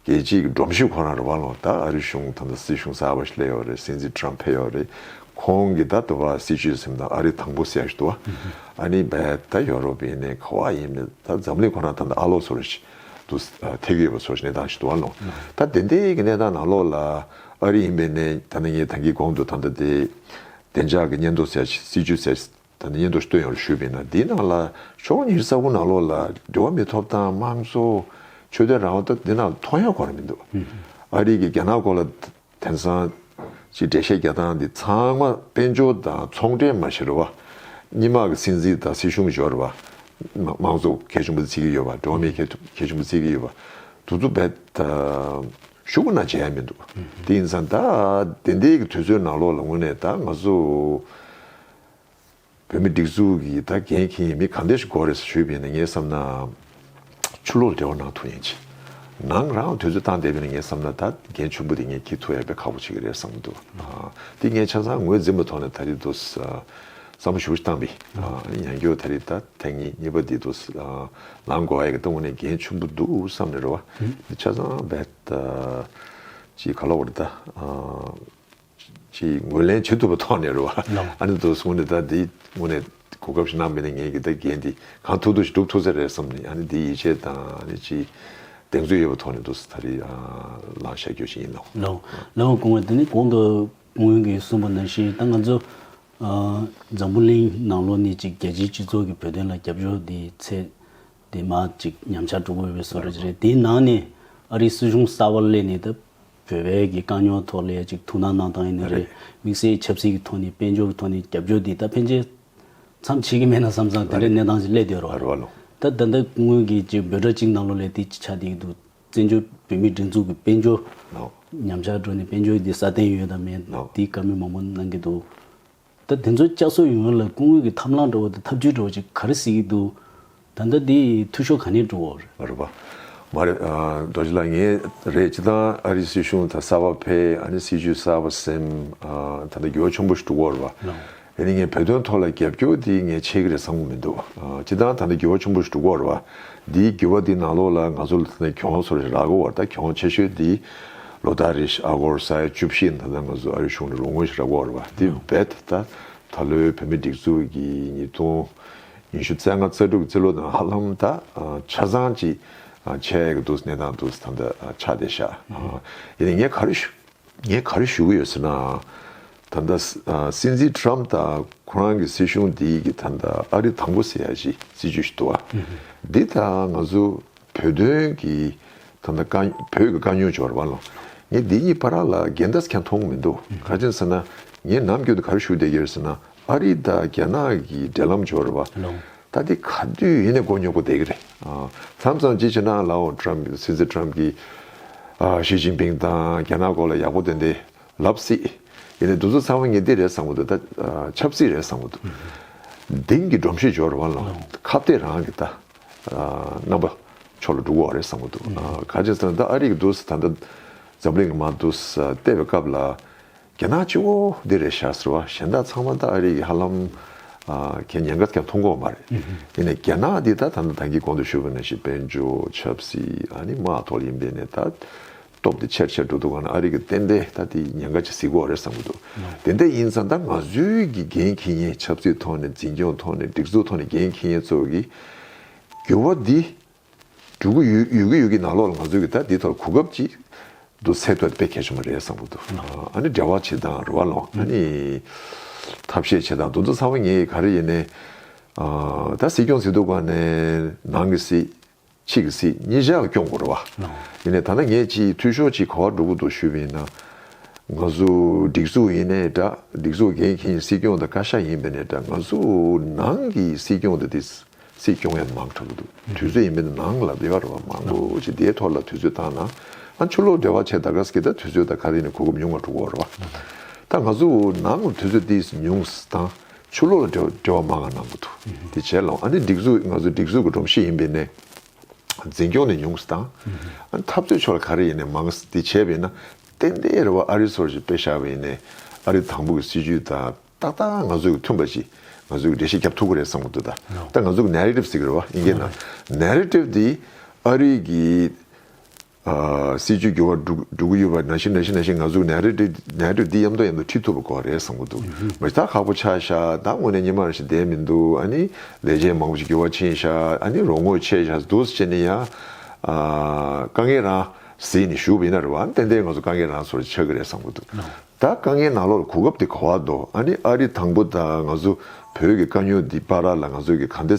རྒྱལ་སྤྱིའི་སྒྲོམ་གཞི་ཁོ་ན་རུ་བ་ལོང་ད་ཨ་རི་གཞུང་དང་ད་སྲིད་གཞུང་གསར་བ་ཞིག་སླེབས་ཡོད་རེད་སྲིད་འཛིན་ཏི་རམ་ཕེབས་ཡོད་རེད་ཁོང་གིས་ད་དུ་བ་སྲིད་ཆོད་སེམས་དང་ཨ་རི་དང་པོ་སེ་ཞིག་ཏུ་བ་ཨ་ནི་བས་ད་ཡོ་རོབ་ཡིན་ནའི་ཁ་བ་ཡིན་མེད་ད་འཛམ་གླིང་ཁོ་ན་དང་ད་ཨ་ལོག་ཚོ་རེད་ཞིག་ཏུ་ཐེ་གི་ཡོད་པ་ཚོ་ཞིག་གནས་སྟངས་ཞིག་ཏུ་བ་ལོང་ད་དེ་འདྲའི་གི་གནས་སྟངས་ནང་ལོག་ལ་ཨ་རི་ཡིན་པའི་ནས་ད་ནི་ངས་ད་གི་གོང་དུ་དང་ད་དེ་བདེ་འཇགས་གི་སྙན་ཐོ་སེ་ཞིག་སྲིད་ཇུས་སེ་ད་ནི་སྙན་ཐོ་སྟོན་ཡོང་རེ་ཞུས་པས་ན་འདིའི་ནང་ལ་ཕྱོགས་གཉིས་ས་ཁུལ་ནང་ལོགས་ལ་འབྲེལ་བ་མི་ཐོབ་ཐང་དམངས་གཙོ། ཆོས་དད་རང་དབང་ད་འདི་ནང་མཐོང་ཡ་གོ་རེ་མི་འདུག་ཨ་རིག་གི་རྒྱ་ནག་སྐོར་ལ་དེང་སང་ཅི་འགྲེལ་བཤད་རྒྱག་སྟངས་འདི་ཚང་མ་དཔལ་འབྱོར་དང་ཚོང་འབྲེལ་མ་བྱེད་རེ་བ། གཉིས་དམག་གི་སྲིད་འཛིན་དང་སྲིད་གཞུང་འཇོག་རེ་བ། དམངས་གཙོ་གལ་ཆུང་པོ་བརྩི་གི་ཡོད་པ་འགྲོ་བ་མིའི་གལ་ཆུང་པོ་བརྩི་གི་ཡོད་པ། དུ་ཚོ་བས་ད་ཤུ་གུ་ན་བྱེད་ཡ་མི་འདུག་དེ་ཡིན་ཚང་ད་བདེན་བདེན་གི་དུས་ཚོད་ནང་ལོགས་ལ་ངོས་ནས་ད་ང་ཚོ། བོད་མི་སྒྲིག་འཛུགས་ཀྱི་ད་གན་མཁན་ཡིན་མིན་གང་འདྲ་ཞིག་གོ་རེ་ཟེར་ཞུས་པས་ནི་ངས་བསམ་ན། ཆུ་ལོག་འབྲེལ་བ་གནང་ཐུབ་ཡང་ཆེ། ནང་རང་ལ་དོན་གཙོ་བཏང་བསྡད་པས་ནི་ངས་བསམ་ན་ད་གན་ཆུང་པོ་དེ་ངས་འཁྱེར་ཐུབ་ཡག་པས་ཁག་པོ་ཆེ་གི་རེད་བསམ་གྱི་འདུག་དེ་ངས་ཆ་ཚང་ངོས་འཛིན་པ་ཐོག་ནས་ད་རེས་དུས་བསམ་བློ་ཞུ་བཞིན་བཏང་པས། ཡང་སྐྱོ་ད་རེས་ད་ཐེངས་ངེད་གཉིས་པ་དེ་དུས་ལང་དགོ་ཡག་གི་ད་ངོ་ནས་གན་ཆུང་པོ་འདུག་བསམ་ནས་རེ་བ་ཆ་ཚང་བས། ཅི་ག་ལོག་རེད་ད། ཅེས་ངོས་ལེན་བྱེད་ཐུབ་པ་ཐོག་ནས་རེད་བ། ཨ་ནི་དོ་སོང་ནི་ད་དེའི་སྔོན་ནས་གོ་སྐབས་ཤིག་གནང་མེད་ན་ངས་ཀྱི་ད་འགན་འདི་གང་ཐུབ་ཐུབ་ཞིག་སྒྲུབ་ཐུབ་ས་རེད་བསམ་ནས་ཨ་ནི་དེའི་ཡིད་ཆེས་དང་ཨ་ནི་ཅེས་གདེང་ཚོད་ཡོད་པ་ཐོག་ནས་དུ་ས་ད་རེ་ལང་བཤད་རྒྱུ་ཞིག་ཡིན་ནོ། ལན་འོག་གོང་བས་དེ་ནི་གོང་དུ་ངོས་ཀྱིས་གསུངས་པ་ནང་བཞིན་ད་ང་ཚོ་འཛམ་བུ་གླིང་ནང་ལོ་ནི་ཅིག་རྒྱལ་སྤྱིའི་སྤྱི་ཚོགས་ཀྱི་བོད་དོན་ལ་རྒྱབ་སྐྱོར་དེ་ཚད་དེ་མ་ཅིག་ཉམས་ཆག་འགྲོ་དགོས་པའི་བཟོ་ལས་ཅིག་རེད་དེའི་ནང་ནས་ཨ་རིའི་སྲིད་གཞུང་གསར་བ་སླེབས་ནས་ད་བོད་པའི་གི་དཀའ་རྙོག་ཐོག་ལས་ཅིག་ཐུགས་སྣང་གནང་སྟངས་ཡིན་ནི་རེད། དམིགས་བསལ་ཆབ་སྲིད་ཀྱི་ཐོག་ནས་དཔལ་འབྱོར་གྱི་ཐོག་ནས་རྒྱབ་སྐྱོར་འདི་ད་ཕན་ཆད་མཚམས་ཆད་ཀྱི་མེད་ན་བསམ་བསམ་དེ་འདྲའི་གནས་སྟངས་ཞིག་སླེབས་བསྡད་རོགས། ད་ལྟ་འདི་སྔོན་གྱི་ཅིག་འབོད་སྒྲ་གཅིག་གནང་ལོ་ལས་དེ་ཅིག་ཆགས་བསྡད་ཀྱི་འདུག་བཙན་བྱོལ་བོད་མིའི་སྒྲིག་འཛུགས་ཀྱི་དཔལ་འབྱོར་ཉམས་ཆག་འགྲོ་ནས་དཔལ་འབྱོར་འདི་སྲ་བརྟན་ཡོད་དམ་མེད་འདི་བཀའ་མོལ་མང་པོ་གནང་གི་འདུག། ད་དེ་ཚོ་བསྐྱར་གསོ་ཡོང་ཡོང་ལ་སྐུ་ངོས་ཀྱི་ཐབས་ལམ་འདྲ་བོ་དང་ཐབས་ཇུས་འདྲ་བོ་ཅིག་ག་རེ་ཟེར་གྱི་འདུག་ད་ལྟ་འདི་འཐུས་ཤོར་ག་ནས་འགྲོ། རེད་པ། མ་རེད། རྡོ་རྗེ་ལགས་ངས་རེད་ཅེ་ད་ཨ་རིའི་སྲིད་གཞུང་ད་གསར་བ་ཕེ་ཨ་ནི་སྲིད་ཇུས་གསར་བ་སེམས་ད་ད་འགྱུར་བ་ཆུང་པོ་ཞིག་འགྲོ་གོ་རེད་པ། ཨེ་ནི་ངས་བོད་དོན་ཐོག་ལ་རྒྱབ་སྐྱོར་དེ་ངས་བྱེད་ཀྱི་རེད་བསམ་གི་མི་འདུག་ཅེ་ད་ད་འདི་འགྱུར་བ་ཆུང་པོ་ཞིག་འགྲོ་གོ་རེད་པ། འདིའི་འགྱུར་བ་འདི་ནང་ལོགས་ལ་ང་ཚོ་ལ་ད་གྱོང་སོ་རེ་རག་གོ་བར་ད་གྱོང་ཆེ་ཤོས་འདི། ལོ་ཟླ་རེ་བཞིན་ཨ་སྒོར་ས་ཡ་བཅུ་བཞི་ཡིན་ད་ལྟ་ང་ཚོ་ཨ་རིའི་གཞུང་ནས་རོགས་དངུལ་ཞིག་རག་དགོས་རེད་པ་དེ་རྦད་དེ་ད་ད་ལོའི་བོད་མིའི་སྒྲིག་འཛུགས་ཀྱི་ཉིས་སྟོང་ཉི་ཤུ་རྩ་ལྔ་རྩ་དྲུག་གི་རྩིས་ལོ་དང་ཧ་ལམ་ད་ཆ་ཚང་ཅིག་ཆད་ཀྱི་འདུག་གནས་སྟངས་འདུག་ད་ད་ཆ་བསྡད་བཞག་ཡིན་ནས་ངས་ག་རེ་ཞུ་ངས་ག་རེ་ཞུ་གི་ཡོད་ཟེར་ན་ད་ད་སྲིད་འཛིན་ཁྲི་རམ་ད་ཁོ་རང་གི་སྲིད་གཞུང་འདི་གི་ད་ད་ཨ་རི་དང་པོ་ཟེར་ཡག་ཅིག་སྲིད་ཇུས་ཞིག་འདུག་བ་འདི་ད་ང་ཚོ་བོད་དོན་གྱི་ད་ལྟ་དཀའ་བོད་ཀྱི་དཀའ་རྙོག་བྱུང་བར་བ་ལང་ངས་འདི་གཉིས་པར་ལ་རྒན་དར་ཁྱང་མཐོང་མི་འདུག་ག་ཅན་ཟེར་ན་ངས་ནམ་རྒྱུན་དུ་གར་ཞུགས་བསྡད་ཀྱིར་ཟེར་ན་ཨ་རི་དང་རྒྱ་ནག་གི་འབྲེལ་ལམ་བྱུང་བར་བ་ད་འདི་ག་དུས་ཡིན་ནས་མགོ་ཉོག་པོ་བསྡད་ཀྱི་རེད་ཨ་མཚམས་ཙམ་ཅི་བྱས་ན་ལའོ Trump སྲིད་འཛིན Trump གིས་ཞི་ཅིང་པིང་དང་རྒྱ་ནག་སྐོར་ལ་ཡག་པོ་བསྟན་ཏེ་ལབ་སྲིད་ཡིན་ནས་འདུག་ཚོ་ཚང་མ་ངས་འདི་རེད་བསམ་གི་འདུག་ད་ཆབ་སྲིད་རེད་བསམ་གི་འདུག་དིང་གི་སྒྲོམ་གཞི་འཇོག་བར་བ་ལང་ཁ་བརྡས་རང་གི་ད། རྣམ་པ་ཕྱོགས་ལ་འགྲོ་གི་རེད་བསམ་གྱི་འདུག་ག་ཅེས་ན་ད་ཨ་རི་གི་འདུག་ད་ལྟ་འཛམ་གླིང་གི་མ་འདུག་བལྟས་པའི་སྐབས་ལ་རྒྱ་ནག་སྤྱི་བོ་འདི་རེད་བཞག་ཟེར་བ་གཞན་དག་ཚང་མ་ད་ཨ་རི་གི་ཧ་ལམ་གན་ཉན་སྐབས་ཀྱང་མཐོང་གོ་མ་རེད་དེ་ནས་རྒྱ་ནག་འདི་ད་ད་ནི་དང་གི་གོང་དུ་ཤོར་བའི་ནང་བཞིན་དཔལ་འབྱོར་ཆབ་སྲིད་ཨ་ནི་དམག་ཐོག་ལ་ཡིན་པས་ནས་ད། སྟོབས་དེ་ཆེར་ཆེར་འགྲོ་འདུག་ག་ནང་ཨ་རིག་གི་བསྟན་པས་ད་དེ་ཉེན་ཁ་ཆེ་ཟིག་གོ་རེད་བསམ་གྱི་འདུག་དེ་འད་ཡིན་ཙང་ད་ང་ཚོའི་གི་འགན་ཁི་ངེ་ཆབ་སྲིད་ཐོག་ནས་འཛིན་སྐྱོང་ཐོག་ནས་སྒྲིག་འཛུགས་ཐོག་ནས་འགན་ཁི་ངེ་ཚོ་གི་འགྱུར་བ་འདི་འགྲོ་གི་ཡོད་ཡོད་གི་ཡོད་གི་ནང་ལོག་ལ་ང་ཚོའི་གི་ད་དེ་ཐོག་ལ་གོ་སྐབས་ཅིག་འདུག་ཚད་མཐོ་དཔེ་གལ་ཆེན་པོ་རེད་བསམ་གྱི་འདུག་ཨ་ནི་འབྲེལ་བ་བྱེད་སྟངས་རོ་བ་ལོ་ཨ་ནི་ཐབས་ཤེས་བྱེད་སྟངས་འདུག་འདུག་ཚང་མ་ངེ་གི་ག་རེ་ཡིན་ནའི་ད་སྲིད་སྐྱོང་ཟིག་འདུག་ག་ནས་ནང་གི་སྲིད། ཆིག་གི་སྲིད་གཉིས་བཞག་སྐྱོང་དགོར་བ། ཡིན་ནས་ད་ནངས་ཀྱིས་འཐུས་ཤོར་གྱིས་གོ་བ་འགྲོ་གི་འདུག་ཞུས་པས་ན། ང་ཚོ་སྒྲིག་འཛུགས་ཡིན་ནས་འདྲ་སྒྲིག་འཛུགས་འགན་མཁན་སྲིད་སྐྱོང་དང་བཀའ་ཤག་ཡིན་པས་ནས་འདྲ་ང་ཚོ་ནང་གི་སྲིད་སྐྱོང་དང་དེ་སྲིད་སྐྱོང་ཡང་མང་དྲག་གི་འདུག་དུས་ཚོད་ཡིན་པས་ན་ནང་ལ་བདེ་བ་རོལ་བ་མང་པོ་ཅིག་དེའི་ཐོག་ལ་དུས་ཚོད་བཏང་ན་ཨ་ཆུ་ལོག་བདེ་བ་ཆེ་ད་ག་ཟེ་གི་ད་དུས་ཚོད་ད་ག་རེ་ནས་གོ་སྐབས་ཉུང་བ་འགྲོ་གོ་རོ། ད་ང་ཚོ་ནང་དུས་ཚོད་དེ་ཉུང་སྟངས་ཆོས་ལུགས་ལ་འབྲེལ་བ་མང་ང་གནང་གི་འདུག་དེ་བྱས་ལོང་ཨ་ནི་སྒྲིག་འཛུགས་ང་ཚོ་སྒྲིག་འཛུགས་ཀྱི་སྒྲོམ་གཞི་ཡིན་པས་ནས་འཛིན་སྐྱོང་ནས་ཉུང་སུ་དང་ཨ་ནི་འཐབ་རྩོད་ཕྱོགས་ལ་ག་རེ་ཡིན་ནས་མང་སུ་དེ་བྱས་པས་ན་ཏན་ཏན་རེ་བ་ཨ་རི་ཚོར་ཞིག་དཔེ་བཞག་པས་ནས་ཨ་རི་དང་པོ་གི་སྲིད་ཇུས་དང་ཏག་ཏག་ང་ཚོ་གི་མཐུན་པ་ཞིག་ང་ཚོས་འགྲེལ་བཤད་བརྒྱབ་ཐུབ་ཀི་རེད་བསམ་གི་འདུག་ད་ད་ང་ཚོ་གི Narrative ཟེར་གི་རེད་བ་ཡིན་གྱི་ན Narrative དེ་ཨ་རི་གི་སྲིད་ཇུས་འགྱུར་བ་འགྲོ་གི་ཡོད་པ་ནང་བཞིན་ནང་བཞིན་ནང་བཞིན་ང་ཚོ་ནས་རེད་ནས་རེད་འདི་ཡམ་ཐོག་ཡམ་ཐོག་ཁྲིད་ཐུབ་པ་ཁོ་རེད་བསམ་གི་འདུག་མི་རྟག་ཁག་པོ་ཆགས་ཤག་ད་དངོས་གནས་ཉི་མ་རང་བཞིན་བསྡད་མི་འདུག་ཨ་ནི་ལས་བྱེད་མང་པོ་ཞིག་འགྱུར་བ་ཕྱིན་ཤག་ཨ་ནི་རོགས་དངོས་ཆད་ཤག་སྡུག་ས་ཆེ་ནས་ཡང་དཀའ་ངལ་རང་ཟིན་ནས་བཞུགས་པ་ཡིན་ན་རེད་བ་ཨ་ནི་ཏན་ཏན་ང་ཚོ་དཀའ་ངལ་རང་ཚོར་ཆགས་ཀྱི་རེད་བསམ་གི་འདུག་ད་དཀའ་ངལ་ནང་ལོག་ལ་གོ་སྐབས་དེ་གོ་བ་འདོག་ཨ་ནི་ཨ་རི་དང་པོ་ད་ང་ཚོ་བོད་ཀྱི་དཀའ་རྙོག་འདི་སྤར་ར་ལ་ང་ཚོ་གི་ག་འདི་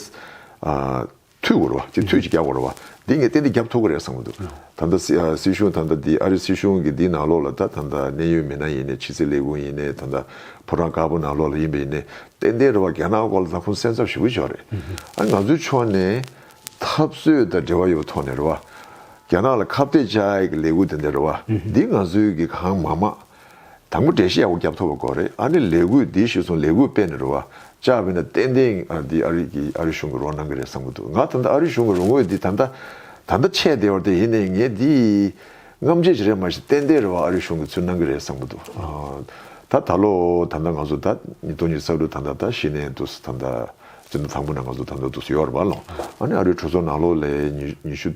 ཐུལ་བོར་བ་སྤྱི་འཐུས་ཀྱི་རྒྱབ་བོར་བ་འདི་ངས་གཏན་འདི་རྒྱབ་ཐོབ་གི་རེད་བསམ་གི་འདུག་ད་ལྟ་སྲིད་གཞུང་ད་ལྟ་འདི་ཨ་རི་སྲིད་གཞུང་གི་འདི་ནང་ལོགས་ལ་ད་ད་ལྟ་གནད་ཡོད་མི་སྣ་ཡིན་ནའི་ཕྱི་སྲིད་ལས་ཁུངས་ཡིན་ནའི་ད་ད་ཕོ་བྲང་དཀར་པོ་ནང་ལོགས་ལ་ཡིན་པ་ཡིན་ནའི་གཏན་གཏན་རེད་བ་རྒྱ་ནག་སྐོར་ལ་ད་ཁོང་སེམས་འཚབ་ཞུ་གི་ཆོག་རེད་ཨ་ང་ཚོའི་ཕྱོགས་ནས་འཐབ་རྩོད་དང་འབྲེལ་བ་ཡོད་པ་ཐོག་ནས་རེད་བ་རྒྱ་ནག་ལ་ཁ་བཏད་བཅའ་ཡི་གི་ལས་འགུལ་དེ་འདྲ་རེད་བ་འདི་ང་ཚོའི་གི་གང་མང་མང། དང་པོ་འགྲེལ་བཤད་ཡག་པོ་རྒྱབ་ཐོབ་པ་དགོས་རེད་ཨ་ནི་ལས་འགུལ་འདི་ཞུས་སོང་ལས་འགུལ་སྤེལ་ནས་རོ་བཅག་བས་ན་ཏན་ཏན་འདི་ཨ་རིག་གིས་ཨ་རི་གཞུང་གི་རོགས་གནང་གི་རེད་བསམ་གི་འདུག་ང་ད་ལྟ་ཨ་རི་གཞུང་གི་རོགས་དངུལ་འདི་ད་ལྟ་ད་ལྟ་ཆད་བསྡད་ཡོད་རེད་ཡིན་ནའི་ངས་འདི་རྔམ་བརྗིད་བྱེད་རེད་མ་གཞི་ཏན་ཏན་རེ་བ་ཨ་རི་གཞུང་གི་ཚུལ་གནང་གི་རེད་བསམ་གི་འདུག་ད་ད་ལོ་ད་ད་ང་ཚོ་ད་ཉིས་སྟོང་ཉིས་ས་དྲུག་ད་ད་ད་གཞི་ནས་འདུག་ས་ད་ད་སྤྱི་ཟླ་དང་པོ་ན་ང་ཚོ་ད་ད་འདུག་ས་ཡོད་རེད་བ་ལོ་ཨ་ནི་ཨ་རིའི་གྲོས་ཚོགས་ནང་ལོ་ལས་ཉི་ཤུ།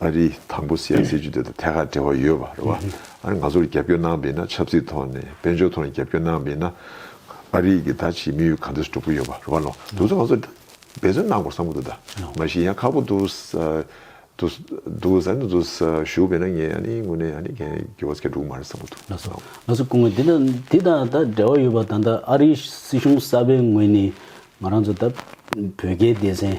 ཨ་རིའི་དང་པོ་སི་ཨའི་སྲིད་ཇུས་དེ་དང་ཐད་ཀར་འབྲེལ་བ་ཡོད་པ་རེད་བ། ཨ་རི་ང་ཚོར་རྒྱབ་སྐྱོར་གནང་པས་ན་ཆབ་སྲིད་ཐོག་ནས་དཔལ་འབྱོར་ཐོག་ནས་རྒྱབ་སྐྱོར་གནང་པས་ན་ཨ་རི་གི་ད་ཕྱིའི་དམིགས་ཡུལ་གང་འདོད་སྒྲུབ་ཀྱི་ཡོད་པ་རེད་བ། ལོ་དུས་ཚོད་ང་ཚོར་འབད་བརྩོན་གནང་དགོས་བསམ་གྱི་འདུག་ད། མ་གཞི་ཡང་ཁག་པོ་འདུག་འདུག་ཟེར་ནས་འདུག་ཞུ་བས་ན་ངས་ཨ་ནི་དངོས་ནས་ཨ་ནི་གན་གི་བོད་སྐད་སྒྲུག་གི་མ་རེད་བསམ་གྱི་འདུག་ཨ། ང་ཚོ་སྐུ་ངོ་འདི་དང་ད་འབྲེལ་བ་ཡོད་པ་ད་ལྟ་ཨ་རིའི་སྲིད་གཞུང་གསར་པའི་ངོས་ནས་ང་རང་ཚོ་ད་བོད་རྒྱའི་སྡེ་ཚན་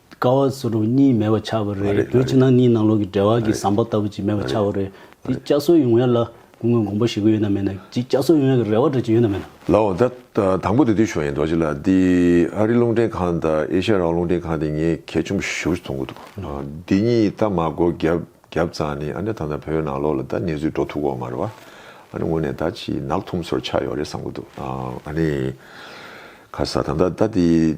དཀའ་བ་སུ་རུ་གཉིས་མེད་པར་ཆགས་པ་རེད་བོད་ཕྱི་ནང་གཉིས་ནང་ལོག་གི་འབྲེལ་བ་གི་ཟམ་པ་ལྟ་བུ་ཅིག་མེད་པར་ཆགས་པ་རེད་འདི་བསྐྱར་གསོ་ཡོང་ཡ་ལ་སྐུ་ངོས་དགོངས་པ་བཞེས་གི་ཡོད་ན་མེད་ན་གྱིས་བསྐྱར་གསོ་ཡོང་ཡ་གི་རེ་བ་འདྲ་གཅིག་ཡོད་ན་མེད་ན། ལའོ། ད་དང་པོ་དེ་དུས་བྱུང་ཡིན་འདུག་བྱས་ལ་འདི་ཨ་རི་རླུང་འཕྲིན་ཁང་དང་ཨེ་ཤ་ར་རླུང་འཕྲིན་ཁང་དེ་ངས་གལ་ཆུང་པོ་ཞིག་ཞུ་རྒྱུ་ཚོང་གི་འདུག་འདི་གཉིས་ད་མ་གོ་བརྒྱབ་ཙང་ནི་ཨ་ནི་ད་ནང་བོད་ནང་ལོག་ལ་ད་གནས་ཚུལ་འགྲོ་ཐུག་གོ་མ་རེད་བ་ཨ་ནི་ངོ་ནས་ད་ཅི་ནག་ཐུམ་སོར་ཆགས་ཡོག་རེད་བསམ་གི་འདུག་ཨ་ནི། ཁ་ས་ད་ད་ད་འདི།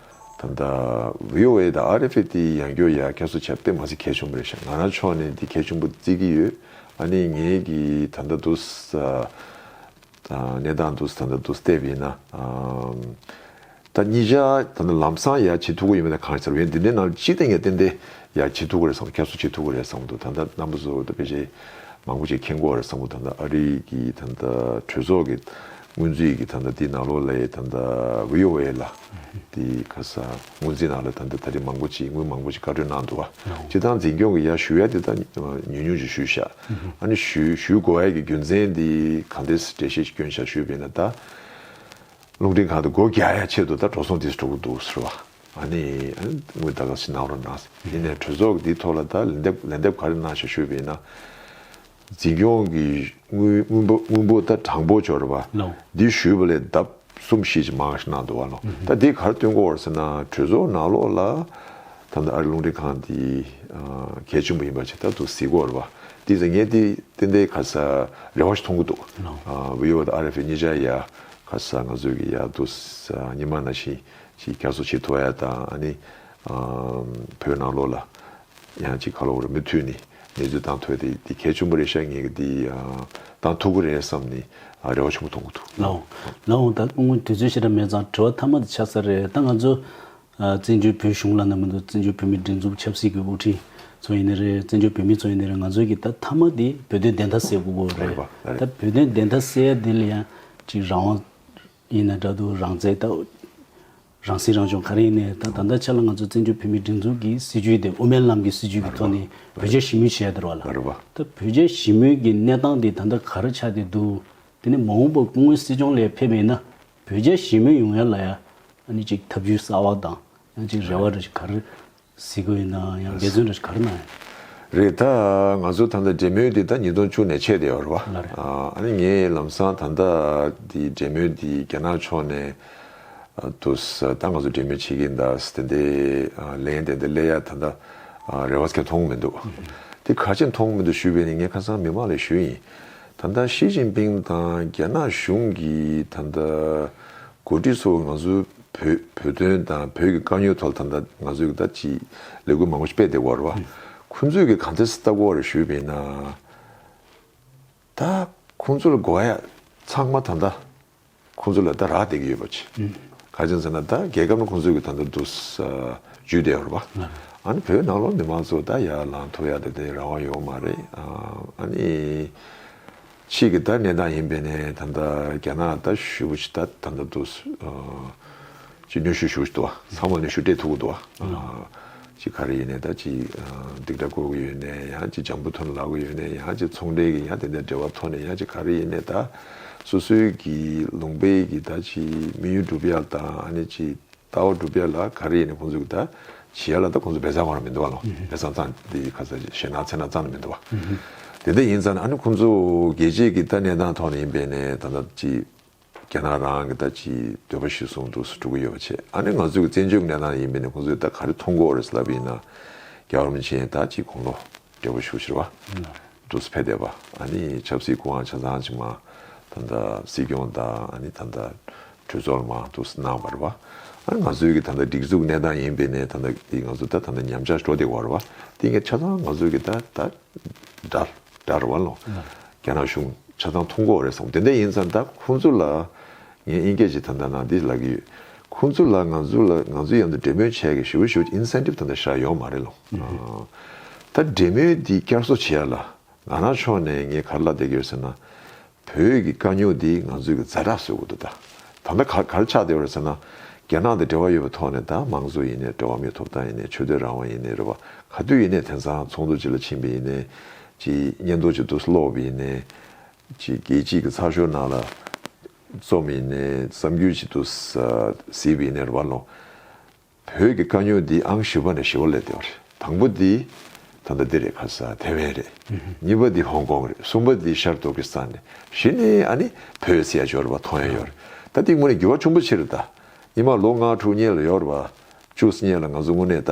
ད་ལྟ VOA དང RFA དེ་ཡང་སྐྱོ་ཡ་ཁྱེད་ཚོ་ཆ་བསྟན་མ་ཟིག་གལ་ཆུང་པོ་རེད་ཤག་ང་རང་ཕྱོགས་ནས་འདི་གལ་ཆུང་པོ་བརྩི་གི་ཡོད་ཨ་ནི་ངེད་ཀྱི་ད་ལྟ་འདུག་ས་དང་གནས་སྟངས་འདུག་ས་ད་ལྟ་འདུག་སྟེབས་ཡིན་ན་ད་ཉིད་ཤག་ད་ནི་ལམ་སང་ཡ་བྱེད་ཐུག་གི་ཡོད་མེད་ད་གང་ཤར་བས་འདི་འདྲའི་ནང་ཅི་ཏེ་ངས་བསྟན་ཏེ་ཡ་བྱེད་ཐུག་གི་རེད་བསམ་གོ་ཁྱེད་ཚོ་བྱེད་ཐུག་གི་རེད་བསམ་འདུག་ད་ལྟ་རྣམ་པ་ཚོ་ད་དཔེ་ཆ་མང་པོ་ཅིག་མཁྱེན་དགོས་རེད་བསམ་འདུག་ད་ལྟ་ཨ་རིག་གི་ད་ལྟ་གྲོས་ཚོགས་ཀྱི། སྔོན་རྩིས་ཀྱི་ཐ་ན་དེའི་ནང་ལོགས་ལས་ད་ལྟ VOA ལ་དེ་ཁ་སང་སྔོན་རྩིས་ནང་ལོགས་ལས་ད་ལྟ་ད་རེས་མང་པོ་ཅིག་དངུལ་མང་པོ་ཅིག་བཀའ་འཁྲོལ་གནང་འདུག་སྤྱི་བཏང་འཛིན་སྐྱོང་གི་ཡ་ཞུ་ཡ་དེ་དག་ཉུང་ཉུང་ཅིག་ཞུས་ཤག་ཨ་ནི་ཞུས་ཞུས་དགོས་ཡ་གི་རྒྱུ་མཚན་དེ་གང་འདྲས་འགྲེལ་བཤད་ཅིག་བསྐྱོན་ཤག་ཞུས་པས་ན་ད་རླུང་འཕྲིན་ཁང་དུ་སྒོ་བརྒྱ་ཡ་ཕྱེད་དུ་ད་འགྲོ་སོང་དེས་འགྲོ་གི་འདུག་ཟེར་བ་ཨ་ནི་ཨ་ནི་དངུལ་ད་ག་ཟེ་གནང་རོགས་གནང་ཟེར་དེ་ནས་གྲོས་ཚོགས་ཀྱི་དེའི་ཐོག་ལ་ད་ལན་འདེབས་ལན་འདེབས་ག་རེ་གནང་ཞག་ཞུས་པས་ན། འཛིན་སྐྱོང་གི་དངུལ་འབོར་ད་གྲངས་འབོར་འབྱོར་བ་འདི་ཞུས་པ་ལས་ལྡབ་གསུམ་བཞི་ཅིག་མང་ཞིག་གནང་འདུག་བ་ལོ་ད་འདི་གར་བསྟུན་སྐོར་ཟེར་ན་གྲོས་ཚོགས་ནང་ལོགས་ལ་ད་ནི་ཨ་རི་རླུང་འཕྲིན་ཁང་འདི་གལ་ཆེན་པོ་ཡིན་པ་ཇི་ལྟར་དུ་གཟིགས་སྐོར་བ་འདི་ཟེར་ངས་འདི་ཏན་ཏན་ག་ས་རེ་བ་ཞིག་མཐོང་གི་འདུག་བི་ཨོ་ཨེ་དང་ཨ་རེ་ཕེ་གཉིས་ཆ་ཡ་ག་ས་ང་ཚོས་ཀྱི་ཡ་དུ་ས་ཉི་མ་ན་བཞིན་གྱི་རྒྱ་མཚོ་བྱི་ཐོ་ཡ་དང་ཨ་ནི་བོད་ནང་ལོགས་ལ་ཡང་ཅིག་ཁ་ལོ་བོར་མི་ཐུལ་ནི་ནེ་ཙོའི་གཏང་ཐོལ་དེ་དེ་གས་ཆུང་པོ་རེ་ཤ་ངེ་གི་དེ་གཏང་ཐུག་གི་རེད་བསམ་ནི་རེ་བ་ཆུང་པོ་ཐོང་གི་འདུག། ལ་འོང། ལ་འོང་ད་སྐུ་ངོ་དུས་ཚོད་ཤི་ར་མེད་ཙང་དྲི་བ་མཐའ་མ་དེ་ཆགས་ས་རེད་ད་ང་ཚོ། བཙན་བྱོལ་བོད་གཞུང་ལ་ན་མི་འདུག་བཙན་བྱོལ་བོད་མིའི་སྒྲིག་འཛུགས་ཆབ་སྲིད་ཀྱི་དབུ་ཁྲིད་ཚོ་ཡིན་ནི་རེད་བཙན་བྱོལ་བོད་མི་ཚོ་ཡིན་ནི་རེད་ང་ཚོའི་གི་ད་མཐའ་མ་དེ་བོད་དོན་བདེན་མཐའ་གསལ་དགོས་གོ་རེད་ད་བོད་དོན་བདེན་མཐའ་གསལ་དེ་ལ་ཡང་ཅིག་རང་དབང་ཡིན་ན་འདྲ་འདུག་རང་བཙན་ད། རང་སྲིད་རང་སྐྱོང་ག་རེ་ཡིན་ནའི་ད་ད་ལྟ་ཆད་ལ་ང་ཚོ་བཙན་བྱོལ་བོད་མིའི་སྒྲིག་འཛུགས་ཀྱི་སྲིད་བྱུས་དེ་དབུ་མའི་ལམ་གྱི་སྲིད་བྱུས་ཀྱི་ཐོག་ནས་བོད་རྒྱ་ཞི་མོལ་བྱས་ཡོད་དར་བ་ལ། ད་བོད་རྒྱ་ཞི་མོལ་གྱི་གནས་སྟངས་དེ་ད་ལྟ་ག་རེ་ཆགས་ཏེ་འདུག་དེ་ནི་མ་འོངས་པར་སྐུ་ངོའི་སྲིད་སྐྱོང་ལས་ཕེབས་པ་ཡིན་ན་བོད་རྒྱ་ཞི་མོལ་ཡོང་ཡ་ལ་ཡ་ཨ་ནི་ཅིག་ཐབས་ཇུས་གསར་བ་དང་ཡང་ཅིག་རེ་བ་རེ་ག་རེ། གཟིགས་དགོས་ཡིན་ནའང་ཡང་འགལ་འཛོལ་འདྲ་ཞིག་ག་རེ་གནང་ཡོད། རེད་ད། ང་ཚོ་ད་ལྟ་འབྲེལ་མོལ་འདི་ཟླ་ཉིས་སྟོང་བཅུ་ནས་ཆད་དེ་ཡོད་རེད་བ། ཨ་ནི་ངས་ལམ་སང་ད་ལྟ་འདི་འབྲེལ་མོལ་འདི་རྒྱ་ནག་ཕྱོགས་ནས་དུ་ད་ང་ཚོ་འབྲེལ་མོལ་བྱེད་ཀྱིན་ད་དེ་འདི་ལན་དེ་འདི་སླེ་ཡ་ད་ད་རེ་བ་ཁྱེད་མཐོང་མི་འདུག་དེ་ག་ཅེས་མཐོང་མི་འདུག་ཞུས་པས་ནི་ངས་ཁ་སང་མི་མང་ལས་ཞུས་ཡིན། ད་ལྟ་ཞི་ཅིན་ཕིང་དང་རྒྱ་ནག་གཞུང་གིས་ད་ལྟ་གོ་སྒྲིག་ཚོགས་འདུ་ང་ཚོའི་བོད་བོད་དོན་དང་བོད་ཀྱི་དཀའ་རྙོག་ཐོག་ད་ལྟ་ང་ཚོས་ཀྱི་ད་ཅི་ལས་འགུལ་མང་པོ་ཞིག་སྤེལ་བསྡད་འོར་བ། ཁོང་ཚོས་ཀྱི་གང་ཐད་སི་ཏཱ་གོ་ལ་ཞུས་མེད་ན། ད་ཁོང་ཚོ་ལ་དགོ་ཡ་ཚང་མ་ད་ལྟ་ཁོང་ཚོ་ལ་ད་རག་བསྡད་ཀྱི་ཡོད་པ་ཅི། ག་ཅང་ཟེར་ན་ད་རྒྱལ་ཁབ་ན་ཁོང་ཚོས་ཀྱི་ད་ལྟ་འདུག་ས་ཇུས་བསྡད་འོར་བ། ཨཱ་ནི་བོད་ནང་ལོག་མི་མང་ཚོ་ད་ཡར་ལངས་ཐུབ་ཡ་ད་ལྟའི་རང་དབང་ཡོད་མ་རེད་ཨཱ་ནི། ཕྱིས་ཀྱི་ད་ནས་ད་ཡིན་པས་ནས་ད་ནས་རྒྱ་ནག་ད་ཞུ་བ་ཅི་ད་ད་ནས་དུ་ཅི་ནུས་ཞུ་ཞུ་བ་ཅི་དུ་བ་ཚང་མ་ནས་ཞུ་སྤྲད་ཐུག་གི་དུ་བ་ཅི་ག་རེ་ཡིན་ནས་ད་ཅི་སྡིག་སྒྲ་གོ་གི་ཡོད་ནས་ཡང་ཅི་ལྗང་བུ་ཐོན་ལག་གི་ཡོད་ནས་ཡང་ཅི་ཚོང་འབྲེལ་གྱི་ཡང་དེ་འདྲའི་འབྲེལ་བ་ཐོག་ནས་ཡང་ཅི་ག་རེ་ཡིན་ནས་ད་སོ་སོའི་གྱི་ལུང་པའི་གྱི་ད་ཅི་མི་ཡུལ་འགྲུབ་ཡག་དང་ཨ་ནི་ཅི། ད་བར་སྒྲུབ་ཡ་ལ་ག་རེ་ཡིན་ནི་ཁོང་ཚོས་ད་བྱེད་ཡ་ལ་ད་ཁོང་ཚོས་བལ་ཚང་བ་རང་མི་འདུག་བ་ལོ་བལ་ཚང་ཚང་དེ་ཁ་ས་ཞེ་ནག་ཚེ་ནག་ཚང་ནི་མི་འདུག་བ། དེ་འད་ཡིན་ཙང་ནི་ཨ་ནི་ཁོང་ཚོ་རྒྱལ་གཅེས་ཀྱི་ད་གནས་སྟངས་ཐོག་ནས་ཡིན་པས་ནས་ད་ད་ཅི་རྒྱ་ནག་རང་གི་ད་ཅི་འདོད་པ་ཞིག་བཟུང་འདུག་སུ་འགྲོ་གི་ཡོད་བ་བྱས་ཨ་ནི་ང་ཚོ་གི་བཙན་བྱོལ་གྱི་གནས་སྟངས་ཡིན་པས་ནས་ཁོང་ཚོས་ད་ག་རེ་མཐོང་གོ་རེ་ཟེར་ལབ་ཡིན་ན་རྒྱ་གར་མི་ཆེན་ད་ཅི་གོང་ལོ་འབྲས་བུ་ཤུགས་ཆེར་བ། གྲུབ་ཚུལ་འཕེལ་བདེ་བ། ནི་ཆབ་སྲིད་ཀུན་དབང་ཆ་ཚང་ཕྱི་མ། ད་ལྟ་སྲིད་སྐྱོང་དང་ནི་ད་ལྟ་གྲོས་ཚོགས་མང་དུ་གནང་བར་བ། ང་ཚོའི་གི་ད་ལྟ་སྒྲིག་འཛུགས་གནས་སྟངས་ཡིན་པའི་ནས་ད་ལྟ་གི་ང་ཚོ་ད་ད་ནི་ཉམས་ཆག་འགྲོ་བདེ་བར་བ། དེ་གི་ཆ་ཚང་ང་ཚོའི་གི་ད་ད་དགྲར་དགྲར་བ་ལོ། རྒྱ་ནག་གཞུང་ཆ་ཚང་ཐུགས་འགོག་རེད་བསམ་དེ་འད་ཡིན་ཙང་ད་ཁོང་ཚོ་ལ། ངས་དབྱིན་སྐད་ཅིག་དམ་དྲག་གནང་འདི་ལབ་གི་ཡོད། ཁོང་ཚོ་ལ་ང་ཚོ་ལ་ང་ཚོའི་ཡང་དུ་འབྲེལ་མོལ་བྱས་གི་ཞུ་ཞུ incentive དམ་དྲག་བཞག་ཡོང་མ་རེད་ལོ། ད་འབྲེལ་མོལ་འདི་བསྐྱར་གསོ་བྱེད་ཡ་ལ། ང་རང་ཕྱོགས་ནས་ངས་གར་ལབ་བསྡད་གི་ཡོད་ཟེར་ན། བོད་ཀྱི་དཀའ་རྙོག་འདི་ང་ཚོས་གི་རྫ་དྲག་བཟོས་དགོས་འདུག་ད། ད་ལྟ་གར་གར་ཆགས་བསྡད་ཡོད་རེད་ཟེར་ན། རྒྱ་ནག་དང་འབྲེལ་བ་ཡོད་པའི་ཐོག་ནས་ད་མང་གཙོ་ཡིན་ནས་འགྲོ་བ་མིའི་ཐོབ་ཐང་ཡིན་ནས་ཆོས་དད་རང་དབང་ཡིན་ནས་རེད་བ་ག་དུས་ཡིན་ནས་དེང་སང་ཚོགས་འདུ་ཅིག་ལ་ཕྱིན་པའི་ཡིན་ནས། ཅིག་བསྙད་འདོགས་ཅིག་འདུག་སློག་པའི་ཡིན་ནས། ཅེས་སྐད་ཅིག་གིས་ཚ་ཤོག་ནང་ལ་བཙོ་མི་ནས་བསམ་རྒྱུ་ཅི་འདུག་ཟེར་བའི་ནས་རུ་བ་ལོང། བོད་ཀྱི་དཀའ་རྙོག་འདི་ཨང་བཞི་བ་ནས་བཞི་བ་ལས་ལྟེ་བ་རེད། དང་པོ་འདི་ད་ལྟ་འདི་རེད་ཁ་སང་ཐེ་ཝན་རེད། གཉིས་པ་འདི་ཧོང་ཀོང་རེད་གསུམ་པ་འདི་ཤར་ཏུར་ཀི་སི་ཐན་རེད་བཞི་ནི་ཨ་ནི་བོད་སའི་ཡ་འབྱོར་བ་ཐོ་ཡན་ཡོད་རེད་ད་འདི་དངོས་གནས་འགྱུར་བ་ཆུང་པོ་ཕྱིར་ད་ཨི་མ་ལོ་ལྔ་དྲུག་སྙེད་ལ་ཡོད་རེད་བ་བཅུ་སྙེད་ལ་ང་ཚོ་དངོས་གནས་ད་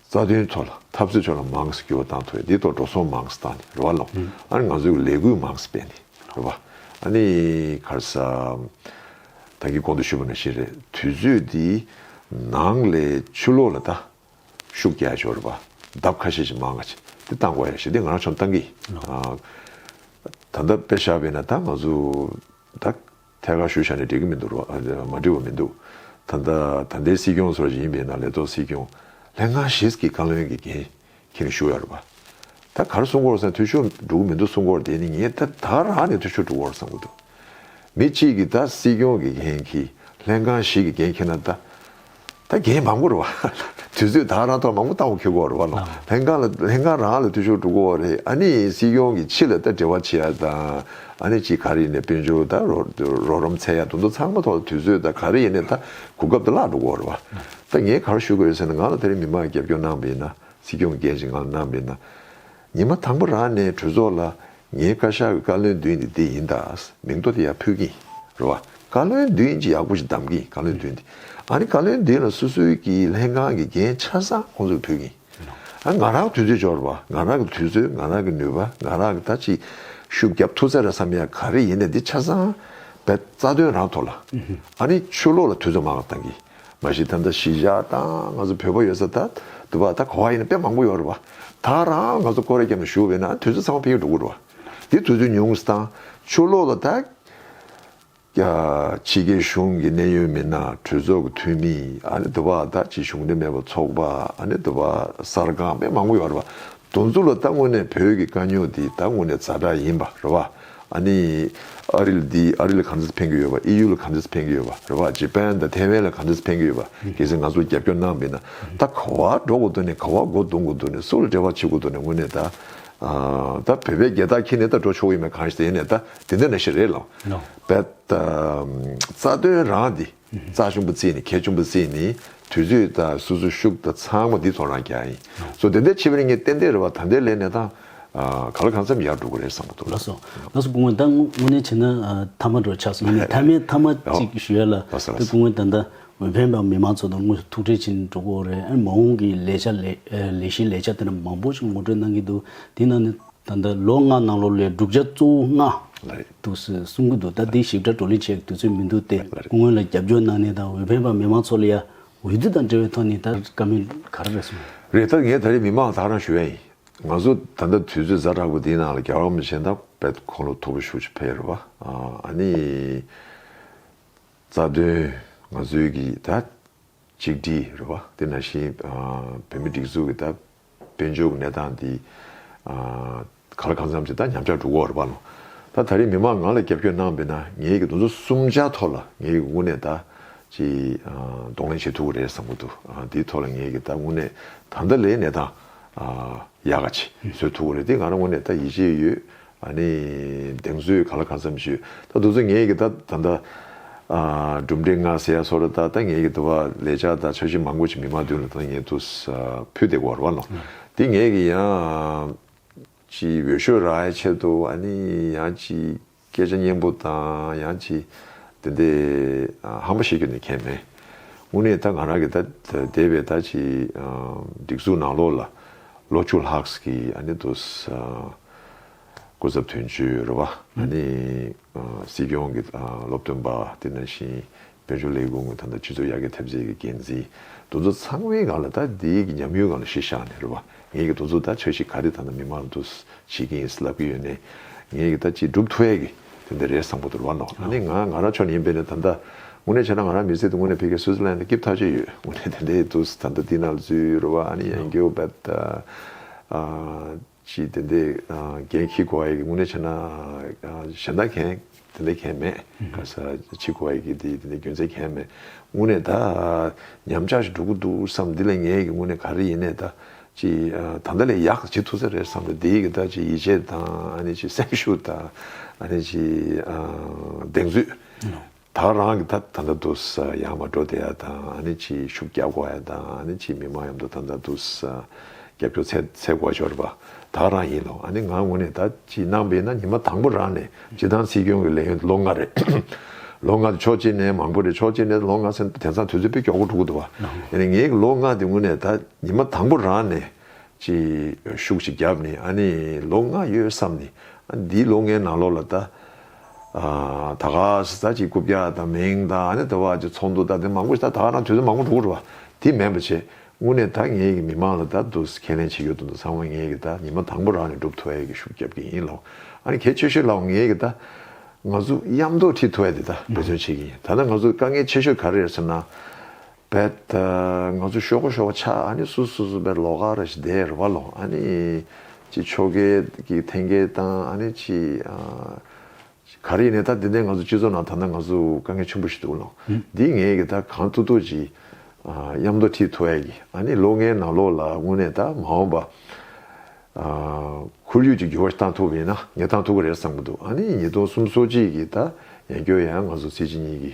རྩ་དོན་ཐོག་ལ་འཐབ་རྩོད་ཕྱོགས་ལ་མང་ས་བསྐྱུར་བ་བཏང་ཐོད་དེ་ཐོག་འགྲོ་སོང་མང་ས་བཏང་ནས་རེ་བ་ལོང་ཨ་ནི་ང་ཚོས་ལས་བསྐུལ་མང་ས་སྤེལ་ནས་རེ་བ་ཨ་ནི་ཁར་ས་ཐང་གི་གོང་དུ་ཞུས་པ་ནང་བཞིན་རེད་དུས་ཚོད་དེ་ནང་ལས་ཆུ་ལོག་ལ་ད་ཤུགས་རྒྱག་ཆོག་རེ་བ་ལྡབ་ཁ་ཤས་ཤིག་མང་ང་ཆེ་དེ་བཏང་དགོས་རེད་ཞེ་དེ་ང་རང་ཆོམ་བཏང་གི་ཨ་ད་ལྟ་དཔེ་བཞག་པས་ན་ད་ང་ཚོ་ད། ཐད་ཀར་ཞུ་བཞག་ནི་འགྲིག་གི་མི་འདུག་རོགས། མ་འགྲིག་བ་མི་འདུག། ད་ལྟ་ད་ལྟའི་སྲིད་སྐྱོང་ཚོར་ཡིན་པས་ན་ལས་ཐོག་སྲིད་སྐྱོང། ལས་སྔ་ཞིས་ཀྱི་བཀའ་བློན་གྱི་འགན་ཁྱེར་ནས་ཞུ་ཡག་རེད་པ། ད་གར་སྲུང་འཁོར་སང་འཐུས་ཤོར་འགྲོ་གི་མི་འདུག་སྲུང་འཁོར་དེ་ནི་ངས་ད་ད་གར་རང་ནས་འཐུས་ཤོར་འགྲོ་འཁོར་བསམ་གྱི་འདུག། མི་གཅིག་གིས་ད་སྲིད་སྐྱོང་གི་འགན་ཁྱེར། ལས་སྔ་ཞིས་ཀྱི་འགན་ཁྱེར་ན་ད། ད་རྒན་མང་པོ་རུ་བ། དུས་ཚོད་ད་ར་ཐོག་མང་པོ་ཏང་ཁེ་གོ་རུ་བ་ལོ། ལྷན་ཁང་ལ་ལྷན་ཁང་རང་ལ་འཐུས་ཤོར་འགྲོ་གོ་བ་རེད་ཨ་ནི་སྲིད་སྐྱོང་གི་ཕྱི་ལ་ད་འབྲེལ་བ་བྱེད་ཡ་དང་ཨ་ནི་ཅི་ག་རི་ཡི་ནས་དཔལ་འབྱོར་ད་རོགས་རོམ་ཚད་ཡ་དུ་འདུ་ཚང་མ་ཐོག་ལ་དུས་ཚོད་ད་ག་རི་ཡི་ནས་ད་གོ་སྐབས་ད་བརླག་འགྲོ་གོ་རུ་བ། ད་ངས་ག་རུ་ཞུ་གོ་ཡོད་ཟེར་ན་ང་ལ་ད་རིང་མི་མང་རྒྱབ་སྐྱོར་གནང་བའི་ན་སྲིད་སྐྱོང་གི་འགན་ཞིག་ང་ལ་གནང་བའི་ན། ཉི་མ་དང་པོ་རང་ནས་གྲོས་ཚོགས་ལ་ངའི་བཀའ་ཤག་གི་བཀའ་བློན་བདུན་འདི་འདི་ཡིན་ད་མིང་ཐོ་དེ་ཡང་ཕུལ་གྱིན་རེད་བ། བཀའ་བློན་བདུན་ཅེས་ཡག་པོ་ཞིག་གདམ་གྱིན་བཀའ་བློན་བདུན་འདི། ཨ་ནི་བཀའ་བློན་བདུན་ལ་སོ་སོའི་གི་ལྷན་ཁང་གི་འགན་ཆ་ཚང་ཁོང་ཚོར་ཕུལ་གྱིན། ང་རང་དུས་ཚོད་འབྱོར་བ་ང་རང་གི་དུས་ཚོད་ང་རང་གི་ནུས་པ་ང་རང་གི་ད་ཅི་ཤུགས་རྒྱབ་ཐུབ་ས་རེད་བསམ་ཡ་ག་རེ་ཡིན་ན་འདི་ཆ་ཚང་བས་རྩ་དོན་རང་ཐོག་ལ། ཨ་ནི་ཆོས་ལོག་ལ་དུས་ཚོད་མང་བ་བཏང་གིན། མ་གཞི་ད་ལྟ་གཞིས་བཞག་དང་ང་ཚོ་བོད་པ་ཡོད་ས་ད་འདུག་བ་ད་གོ་བ་ཡིན་ན་དཔེ་མང་པོ་ཡོད་རེད་བ། ད་རང་ང་ཚོ་ཀོ་རེ་གྱམ་ལ་ཞུགས་བས་ན་དུས་ཚོད་ཚང་མ་ཕེབས་ཀྱི་འགྲོ་གི་རེད་བ། འདི་དུས་ཚོད་ཉུང་ས་དང་ཆུ་ལོག་ལ་ད། ཕྱི་རྒྱལ་གཞུང་གི་གནད་ཡོད་མི་སྣ་གྲོས་ཚོགས་ཀྱི་འཐུས་མི་ཨ་ནི་འདུག་བ་ད་ཕྱི་གཞུང་འབྲེལ་མེད་པ་ཚོགས་པ་ཨ་ནི་འདུག་བ་གསར་ཁང་དཔེ་མང་པོ་ཡོད་རེད་བ། དུ་འཛུགས་ལ་ད་དངོས་གནས་བོད་ཀྱི་དཀའ་རྙོག་འདི་ད་དངོས་གནས་རྫ་དྲག་ཡིན་པ་རེད་བ། ཨ་ནི། ཨ་རི་ལ་འདི་ཨ་རི་ལ་གང་འདྲ་འཕེན་གྱི་ཡོད་བ་ཨི་ཡུ་ལ་གང་འདྲ་འཕེན་གྱི་ཡོད་བ་རེད་བ་ཇེ་པན་དང་ཐེ་ཝན་ལ་གང་འདྲ་འཕེན་གྱི་ཡོད་བ་གལ་སྲིད་ང་ཚོ་རྒྱབ་སྐྱོར་གནང་མིན་ན་ད་ག་བ་འགྲོ་གོ་དོ་ནས་ག་བ་མགོ་རྡུང་གོ་དོ་ནས་སུ་ལ་འབྲེལ་བ་བྱེད་གོ་དོ་ནས་དངོས་གནས་ད། ད་བོད་པའི་རྒྱལ་རྟགས་འཁྱེར་ནས་ད་འགྲོ་ཆོག་གི་མེད་གང་ཞེ་ན་ད་དེ་འདྲ་ན་ཞིག་རེད་ལ་བས། རྩ་དོན་རང་འདི། རྩ་ཆུན་པོ་རྩིས་ནི་ཁལ་ཆུན་པོ་རྩིས་ནི་དུས་ཚོད་དང་སུ་སུ་ཤུགས་དང་ཚང་མ་འདི་ཚོ་རང་རྐྱ་ཡིན་སོ་དེ་འདྲའི་ཆེ་བའི་ངས་ཏན་ཏན་རེ་བ་ད་འདའི་ལས་གནས་དང། ག་ལ་གང་འཚམས་ཡར་འགྲོ་དགོས་རེད་བསམ་གི་འདུག་ལགས་སོ། ལགས་སོ་སྐུ་ངོས་ད་དངོས་གནས་བྱས་ན་མཐའ་མ་འགྲོ་ཆགས་སོ་ཡིན་ནའི་མཐའ་མའི་མཐའ་མ་གཅིག་ཞུ་ཡ་ལ་དེ་སྐུ་ངོས་ད་ལྟ་འོས་འཕེན་པ་མི་མང་ཚོ་དང་དངོས་སུ་ཐུག་འཕྲད་བྱེད་འགྲོ་དགོས་རེད་ཨ་མ་འོང་གི་ལས་བྱ་ལས་གཞི་ལས་བྱ་དེ་འདྲ་མང་པོ་ཞིག་ངོ་སྤྲོད་གནང་གི་འདུག་དེ་ནང་ནས་ད་ལྟ་ལོ་ལྔ་ནང་ལོ་ལས་སྒྲུབ་བྱ་གཙོ་བོ་ལྔ། འདུག་ཟེར་གསུང་གི་འདུག་ད་དེ་ཞིབ་ཕྲ་བགྲོ་གླེང་བྱེད་དུས་ཚོད་མི་འདུག་སྟེ་སྔོན་ལ་རྒྱབ་སྐྱོར་གནང་ནས་དང་འོས་འཕེན་པ་མི་མང་ཚོགས་ལ་ཡང་འོས་བསྡུ་དང་འབྲེལ་བའི་ཐོག་ནས་ད་བཀའ་མོལ་ག་རེ་རེད་གསུང། རེད་ད་ངས་ད་རེས་མི་མང་དག་རང་ཞུ་ཡ་ཡིན། ང་ཚོ་ད་ལྟ་དུས་ཚོད་གཟའ་དྲག་པོ་འདིའི་ནང་ལ་རྒྱ་གར་མི་ཆེན་དག་བེད་ཁོང་ལོ་ཐོ་བུ་ཞུགས་ཆེ་ཕེར་བ་ཨ་ནི། རྩ་དོན་ང་ཚོའི་གི་ད་གཅིག་སྒྲིལ་རེད་བ་དེ་ནང་བཞིན་བོད་མི་སྒྲིག་འཛུགས་གི་ད་དཔལ་འབྱོར་གྱི་གནས་སྟངས་འདི། ག་ལ་གང་འཚམ་ཅིག་ད་ཉམས་ཆག་འགྲོ་གོ་རེད་བ། ད་ད་རེས་མི་མང་ང་ལ་རྒྱབ་སྐྱོར་གནང་པས་ན་ངའི་གདོན་ཚོ་གསུམ་ཆ་ཐོག་ལ་ངའི་གི་དངོས་གནས་ད། ཅིག། གདོང་ལེན་བྱེད་ཐུབ་ཀྱི་རེད་བསམ་གྱི་འདུག་འདིའི་ཐོག་ལ་ངའི་གི་ད་དངོས་གནས་ད་ད་ལའི་གནས་སྟངས། ཡག་ག་ཅིག་བཟོས་ཐུབ་ཀྱི་རེད་འདི་ང་རང་དངོས་གནས་ད་ཡིད་ཆེས་ཡོད། ཨ་ནི། གདེང་ཚོད་ག་ལ་གང་འཚམས་ཞུ། ད་འདུག་ཚོ་ངེད་ཀྱི་ད་ད་ལྟ། གྲུབ་འབྲས་ལྔ་ཟེར་ཡ་སོ་ར་ད་ད་ངེད་ཀྱི་འདུ་བ་ལས་ཅག་ད་འཆར་གཞི་མང་པོ་ཆེ་མི་མང་བདུན་ལ་ད་ད་ངེད་འདུ་ས་ཕུད་དེ་གོ་ར་ནོ། འདི་ངེད་ཀྱི་ཡང། ཅི་འོས་ཤོད་ར་ཡ་ཆེད་དུ་ཨ་ནི་ཡང་ཅི་སྐད་ཆ་སྙན་པོ་དང་ཡང་ཅི། འདི་འདི། ཧམ་པ་བཤད་རྒྱུ་ནི་ཁས་མེད། དངོས་གནས་ད་ང་རང་གི་ད་འདས་པའི་ད་ཅི། སྒྲིག་འཛུགས་ནང་ལོགས་ལ། ལོ་བཅུ་ལྷག་གི་ཨ་ནི་འདུ་ས། སྐུ་ཚབ་དོན་གཅོད་རུ་བ་ན་ནི། སྲིད་སྐྱོང་གི་སློབ་སྟོན་པ་བསྟི་གནང་ཞིང། དཔལ་འབྱོར་ལས་ཁུངས་དང་དང་སྤྱི་ཚོགས་ཡར་རྒྱས་ཐེབས་རྩའི་འགན་འཛིན། འདུ་ཚོགས་ཚང་མའི་སྒང་ལ་ད་ལྟའི་ཉམས་ཡོད་སྒང་ལ་གཞི་བཞག་ནས་རུ་བ་ངེད་ཀྱི་འདུ་ཚོགས་ད་ཆ་ཞིག་ག་རེ་ད་ནང་མི་མང་འདུ་བྱེད་ཀྱིན་ལབ་ཀྱི་ཡོད་ནས། ངེད་ཀྱི་ད་ཅི་སྒྲུབ་ཐུབ་བས་ཀྱི་དེ་འདི་རེད་བསམ་གོ་དུར་བ་ལགས་ན་ནི་ང་ང་རང་ཕྱོགས་ནས་ཡིན་པས་ནི་ད་ལྟ་དངོས་གནས་བྱས་ན་ང་རང་མི་ཚེ་དུ་དངོས་གནས་ཕེ་ཁེ་སུའུ་ཙི་ལན་དུ་སྐྱིབས་ཐག་བཅད་ཡོད་དངོས་གནས་དེ་འདྲའི་དུས་སུ་ད་ལྟ་བསྟི་གནང་ལ་བརྫུས་རུ་བ་ཨ་ནི་ཡན་གྱོའུ་བད། ཅི་དེ་འདི་རྒན་ཁྱི་གོ་ཨེ་གི་དངོས་གནས་བྱས་ན་གཞན་དག་མཁན་དེ་འདི་མཁན་མེད་ག་ས་ཅི་གོ་ཨེ་གི་འདི་འདི་འདི་རྒྱུ་མཚན་མཁན་མེད་དངོས་གནས་ད་ཉམས་ཆག་ཞིག་འགྲོ་གི་འདུག་བསམ་འདི་ལས་ངས་ཀྱི་དངོས་གནས་ག་རེ་ཡིན་ནས་ད་ཅི་ད་ལྟ་ལས་ཡག་བྱེད་ཐུབ་ས་རེད་བསམ་ལ་འདིའི་གི་ད་ཅི་ཡིད་ཆེས་དང་ཨ་ནི་ཅི་སེམས་ཤུགས་དང་ཨ་ནི་ཅི་གདེང་ཚོད་དྭགས་རང་གི་ཐ་ན་དུ་ས་ཡང་མ་འགྲོ་དེ་ཡ་དང་ཨ་ནི་ཆིའི་ཤུགས་རྒྱག་གོ་ཡ་དང་ཨ་ནི་ཆིའི་མི་མང་ཡོམ་དུ་ཐ་ན་དུ་ས་རྒྱབ་སྐྱོར་ཚད་ཚད་གོ་ཤོར་བ་དྭགས་རང་ཡིན་ནོ་ཨ་ནི་ང་ངོ་ནས་ད་ཅི་གནང་བས་ན་ཉི་མ་དང་པོ་རང་ནས་སྤྱི་བཏང་སྲིད་སྐྱོང་གི་ལས་ཡོན་དུ་ལོ་ལྔ་རེད་ལོ་ལྔ་དུ་ཕྱོགས་གཅིག་ནས་མང་པོ་རེད་ཕྱོགས་གཅིག་ནས་ལོ་ལྔ་ཟེར་ན་དེང་སང་དུས་ཚོད་དཔེ་སྐྱོག་གོ་དྲུག་གོ་དུ་བ་ཡ་ནི་ངའི་གི་ལོ་ལྔ་དེ་ངོ་ནས་ད་ཉི་མ་དང་པོ་རང་ནས་ཆིའི་ཤུགས་ཤིག་རྒྱབ་ནི་ཨ་ནི་ལོ་ལྔ་ཡོད་བསམ་ནི་ཨ་ནི་འདིའི་ལོ་ལྔའི་ནང་ལོ་ལ་ད། ད་ག་ཟི་ཚ་གཅིག་རྐུབ་བཀྱག་དང་མིང་དང་ཨ་ནེ་དེ་བ་གཅིག་ཚོགས་འདུ་ད་དེ་མང་པོ་ཞིག་ད་ད་ག་རང་དུས་ཚོད་མང་པོ་འགྲོ་དགོས་རེད་བ་དེ་མེད་པ་བྱས་དངོས་གནས་ད་ངེད་ཀྱི་མི་མང་ལ་ད་དུ་ཁས་ལེན་བྱེད་ཡོད་དོ་འདུག་ཚང་མ་ངེད་ཀྱི་ད་ཉི་མ་དང་པོ་རང་ནས་སྒྲུབ་ཐུ་ཨེ་གི་ཤུགས་རྒྱབ་ཀྱི་ཡིན་ལོག་ཨ་ནེ་གལ་ཆེ་ཤོས་ལའོ་ངེད་ཀྱི་ད་ང་ཚོ་གཡམ་རྡོ་ཁྲིད་ཐུ་ཨེ་དེ་ད་འབད་བརྩོན་བྱེད་ཀྱི་ཡིན་ད་ད་ང་ཚོ་དཀའ་ངལ་ཆེ་ཤོས་ག་རེ་རེད་ཟེར་ན། བེད། ང་ཚོ་ཤོ་གོ་ཤོ་བ་ཆགས་ཨ་ནི་སུ་སུ་སུ་བེད་ལོ་ག་ར་ཞི་དེ་ར་བ་ལོ་ཨ་ནི། ཅི་ཆོ་གའི་གི་ཐེན་གའི་དང་ཨ་ནི་ཅི། ག་རི་ཡི་ནི་ད་དེ་འདའི་ང་ཚོ་སྤྱི་ཚོགས་ནང་ད་ནང་ང་ཚོ་དཀའ་ངལ་ཆུན་པོ་ཞིག་འདུག་ལོ། འདི་ངས་གི་ད་གང་ཐུག་ཐུག་ཅི། གཡམ་མདོ་ཁྲི་ཐུ་ཨའི་གི་ཨ་ནི་ལོ་ལྔའི་ནང་ལོ་ལ་དངོས་གནས་ད་མ་འོངས་པ། ཁོར་ཡུག་ཅིག་འགྱུར་བ་ཞིག་བཏང་ཐུབ་པ་ཡིན་ན་ངས་བཏང་ཐུབ་གི་རེད་བསམ་གི་འདུག་ཨ་ནི་ཉིས་སྟོང་གསུམ་སོ་གཅིག་གི་ད་ཡང་སྐྱོ་ཡང་ང་ཚོ་ཚེ་གཅིག་གཉིས་གི།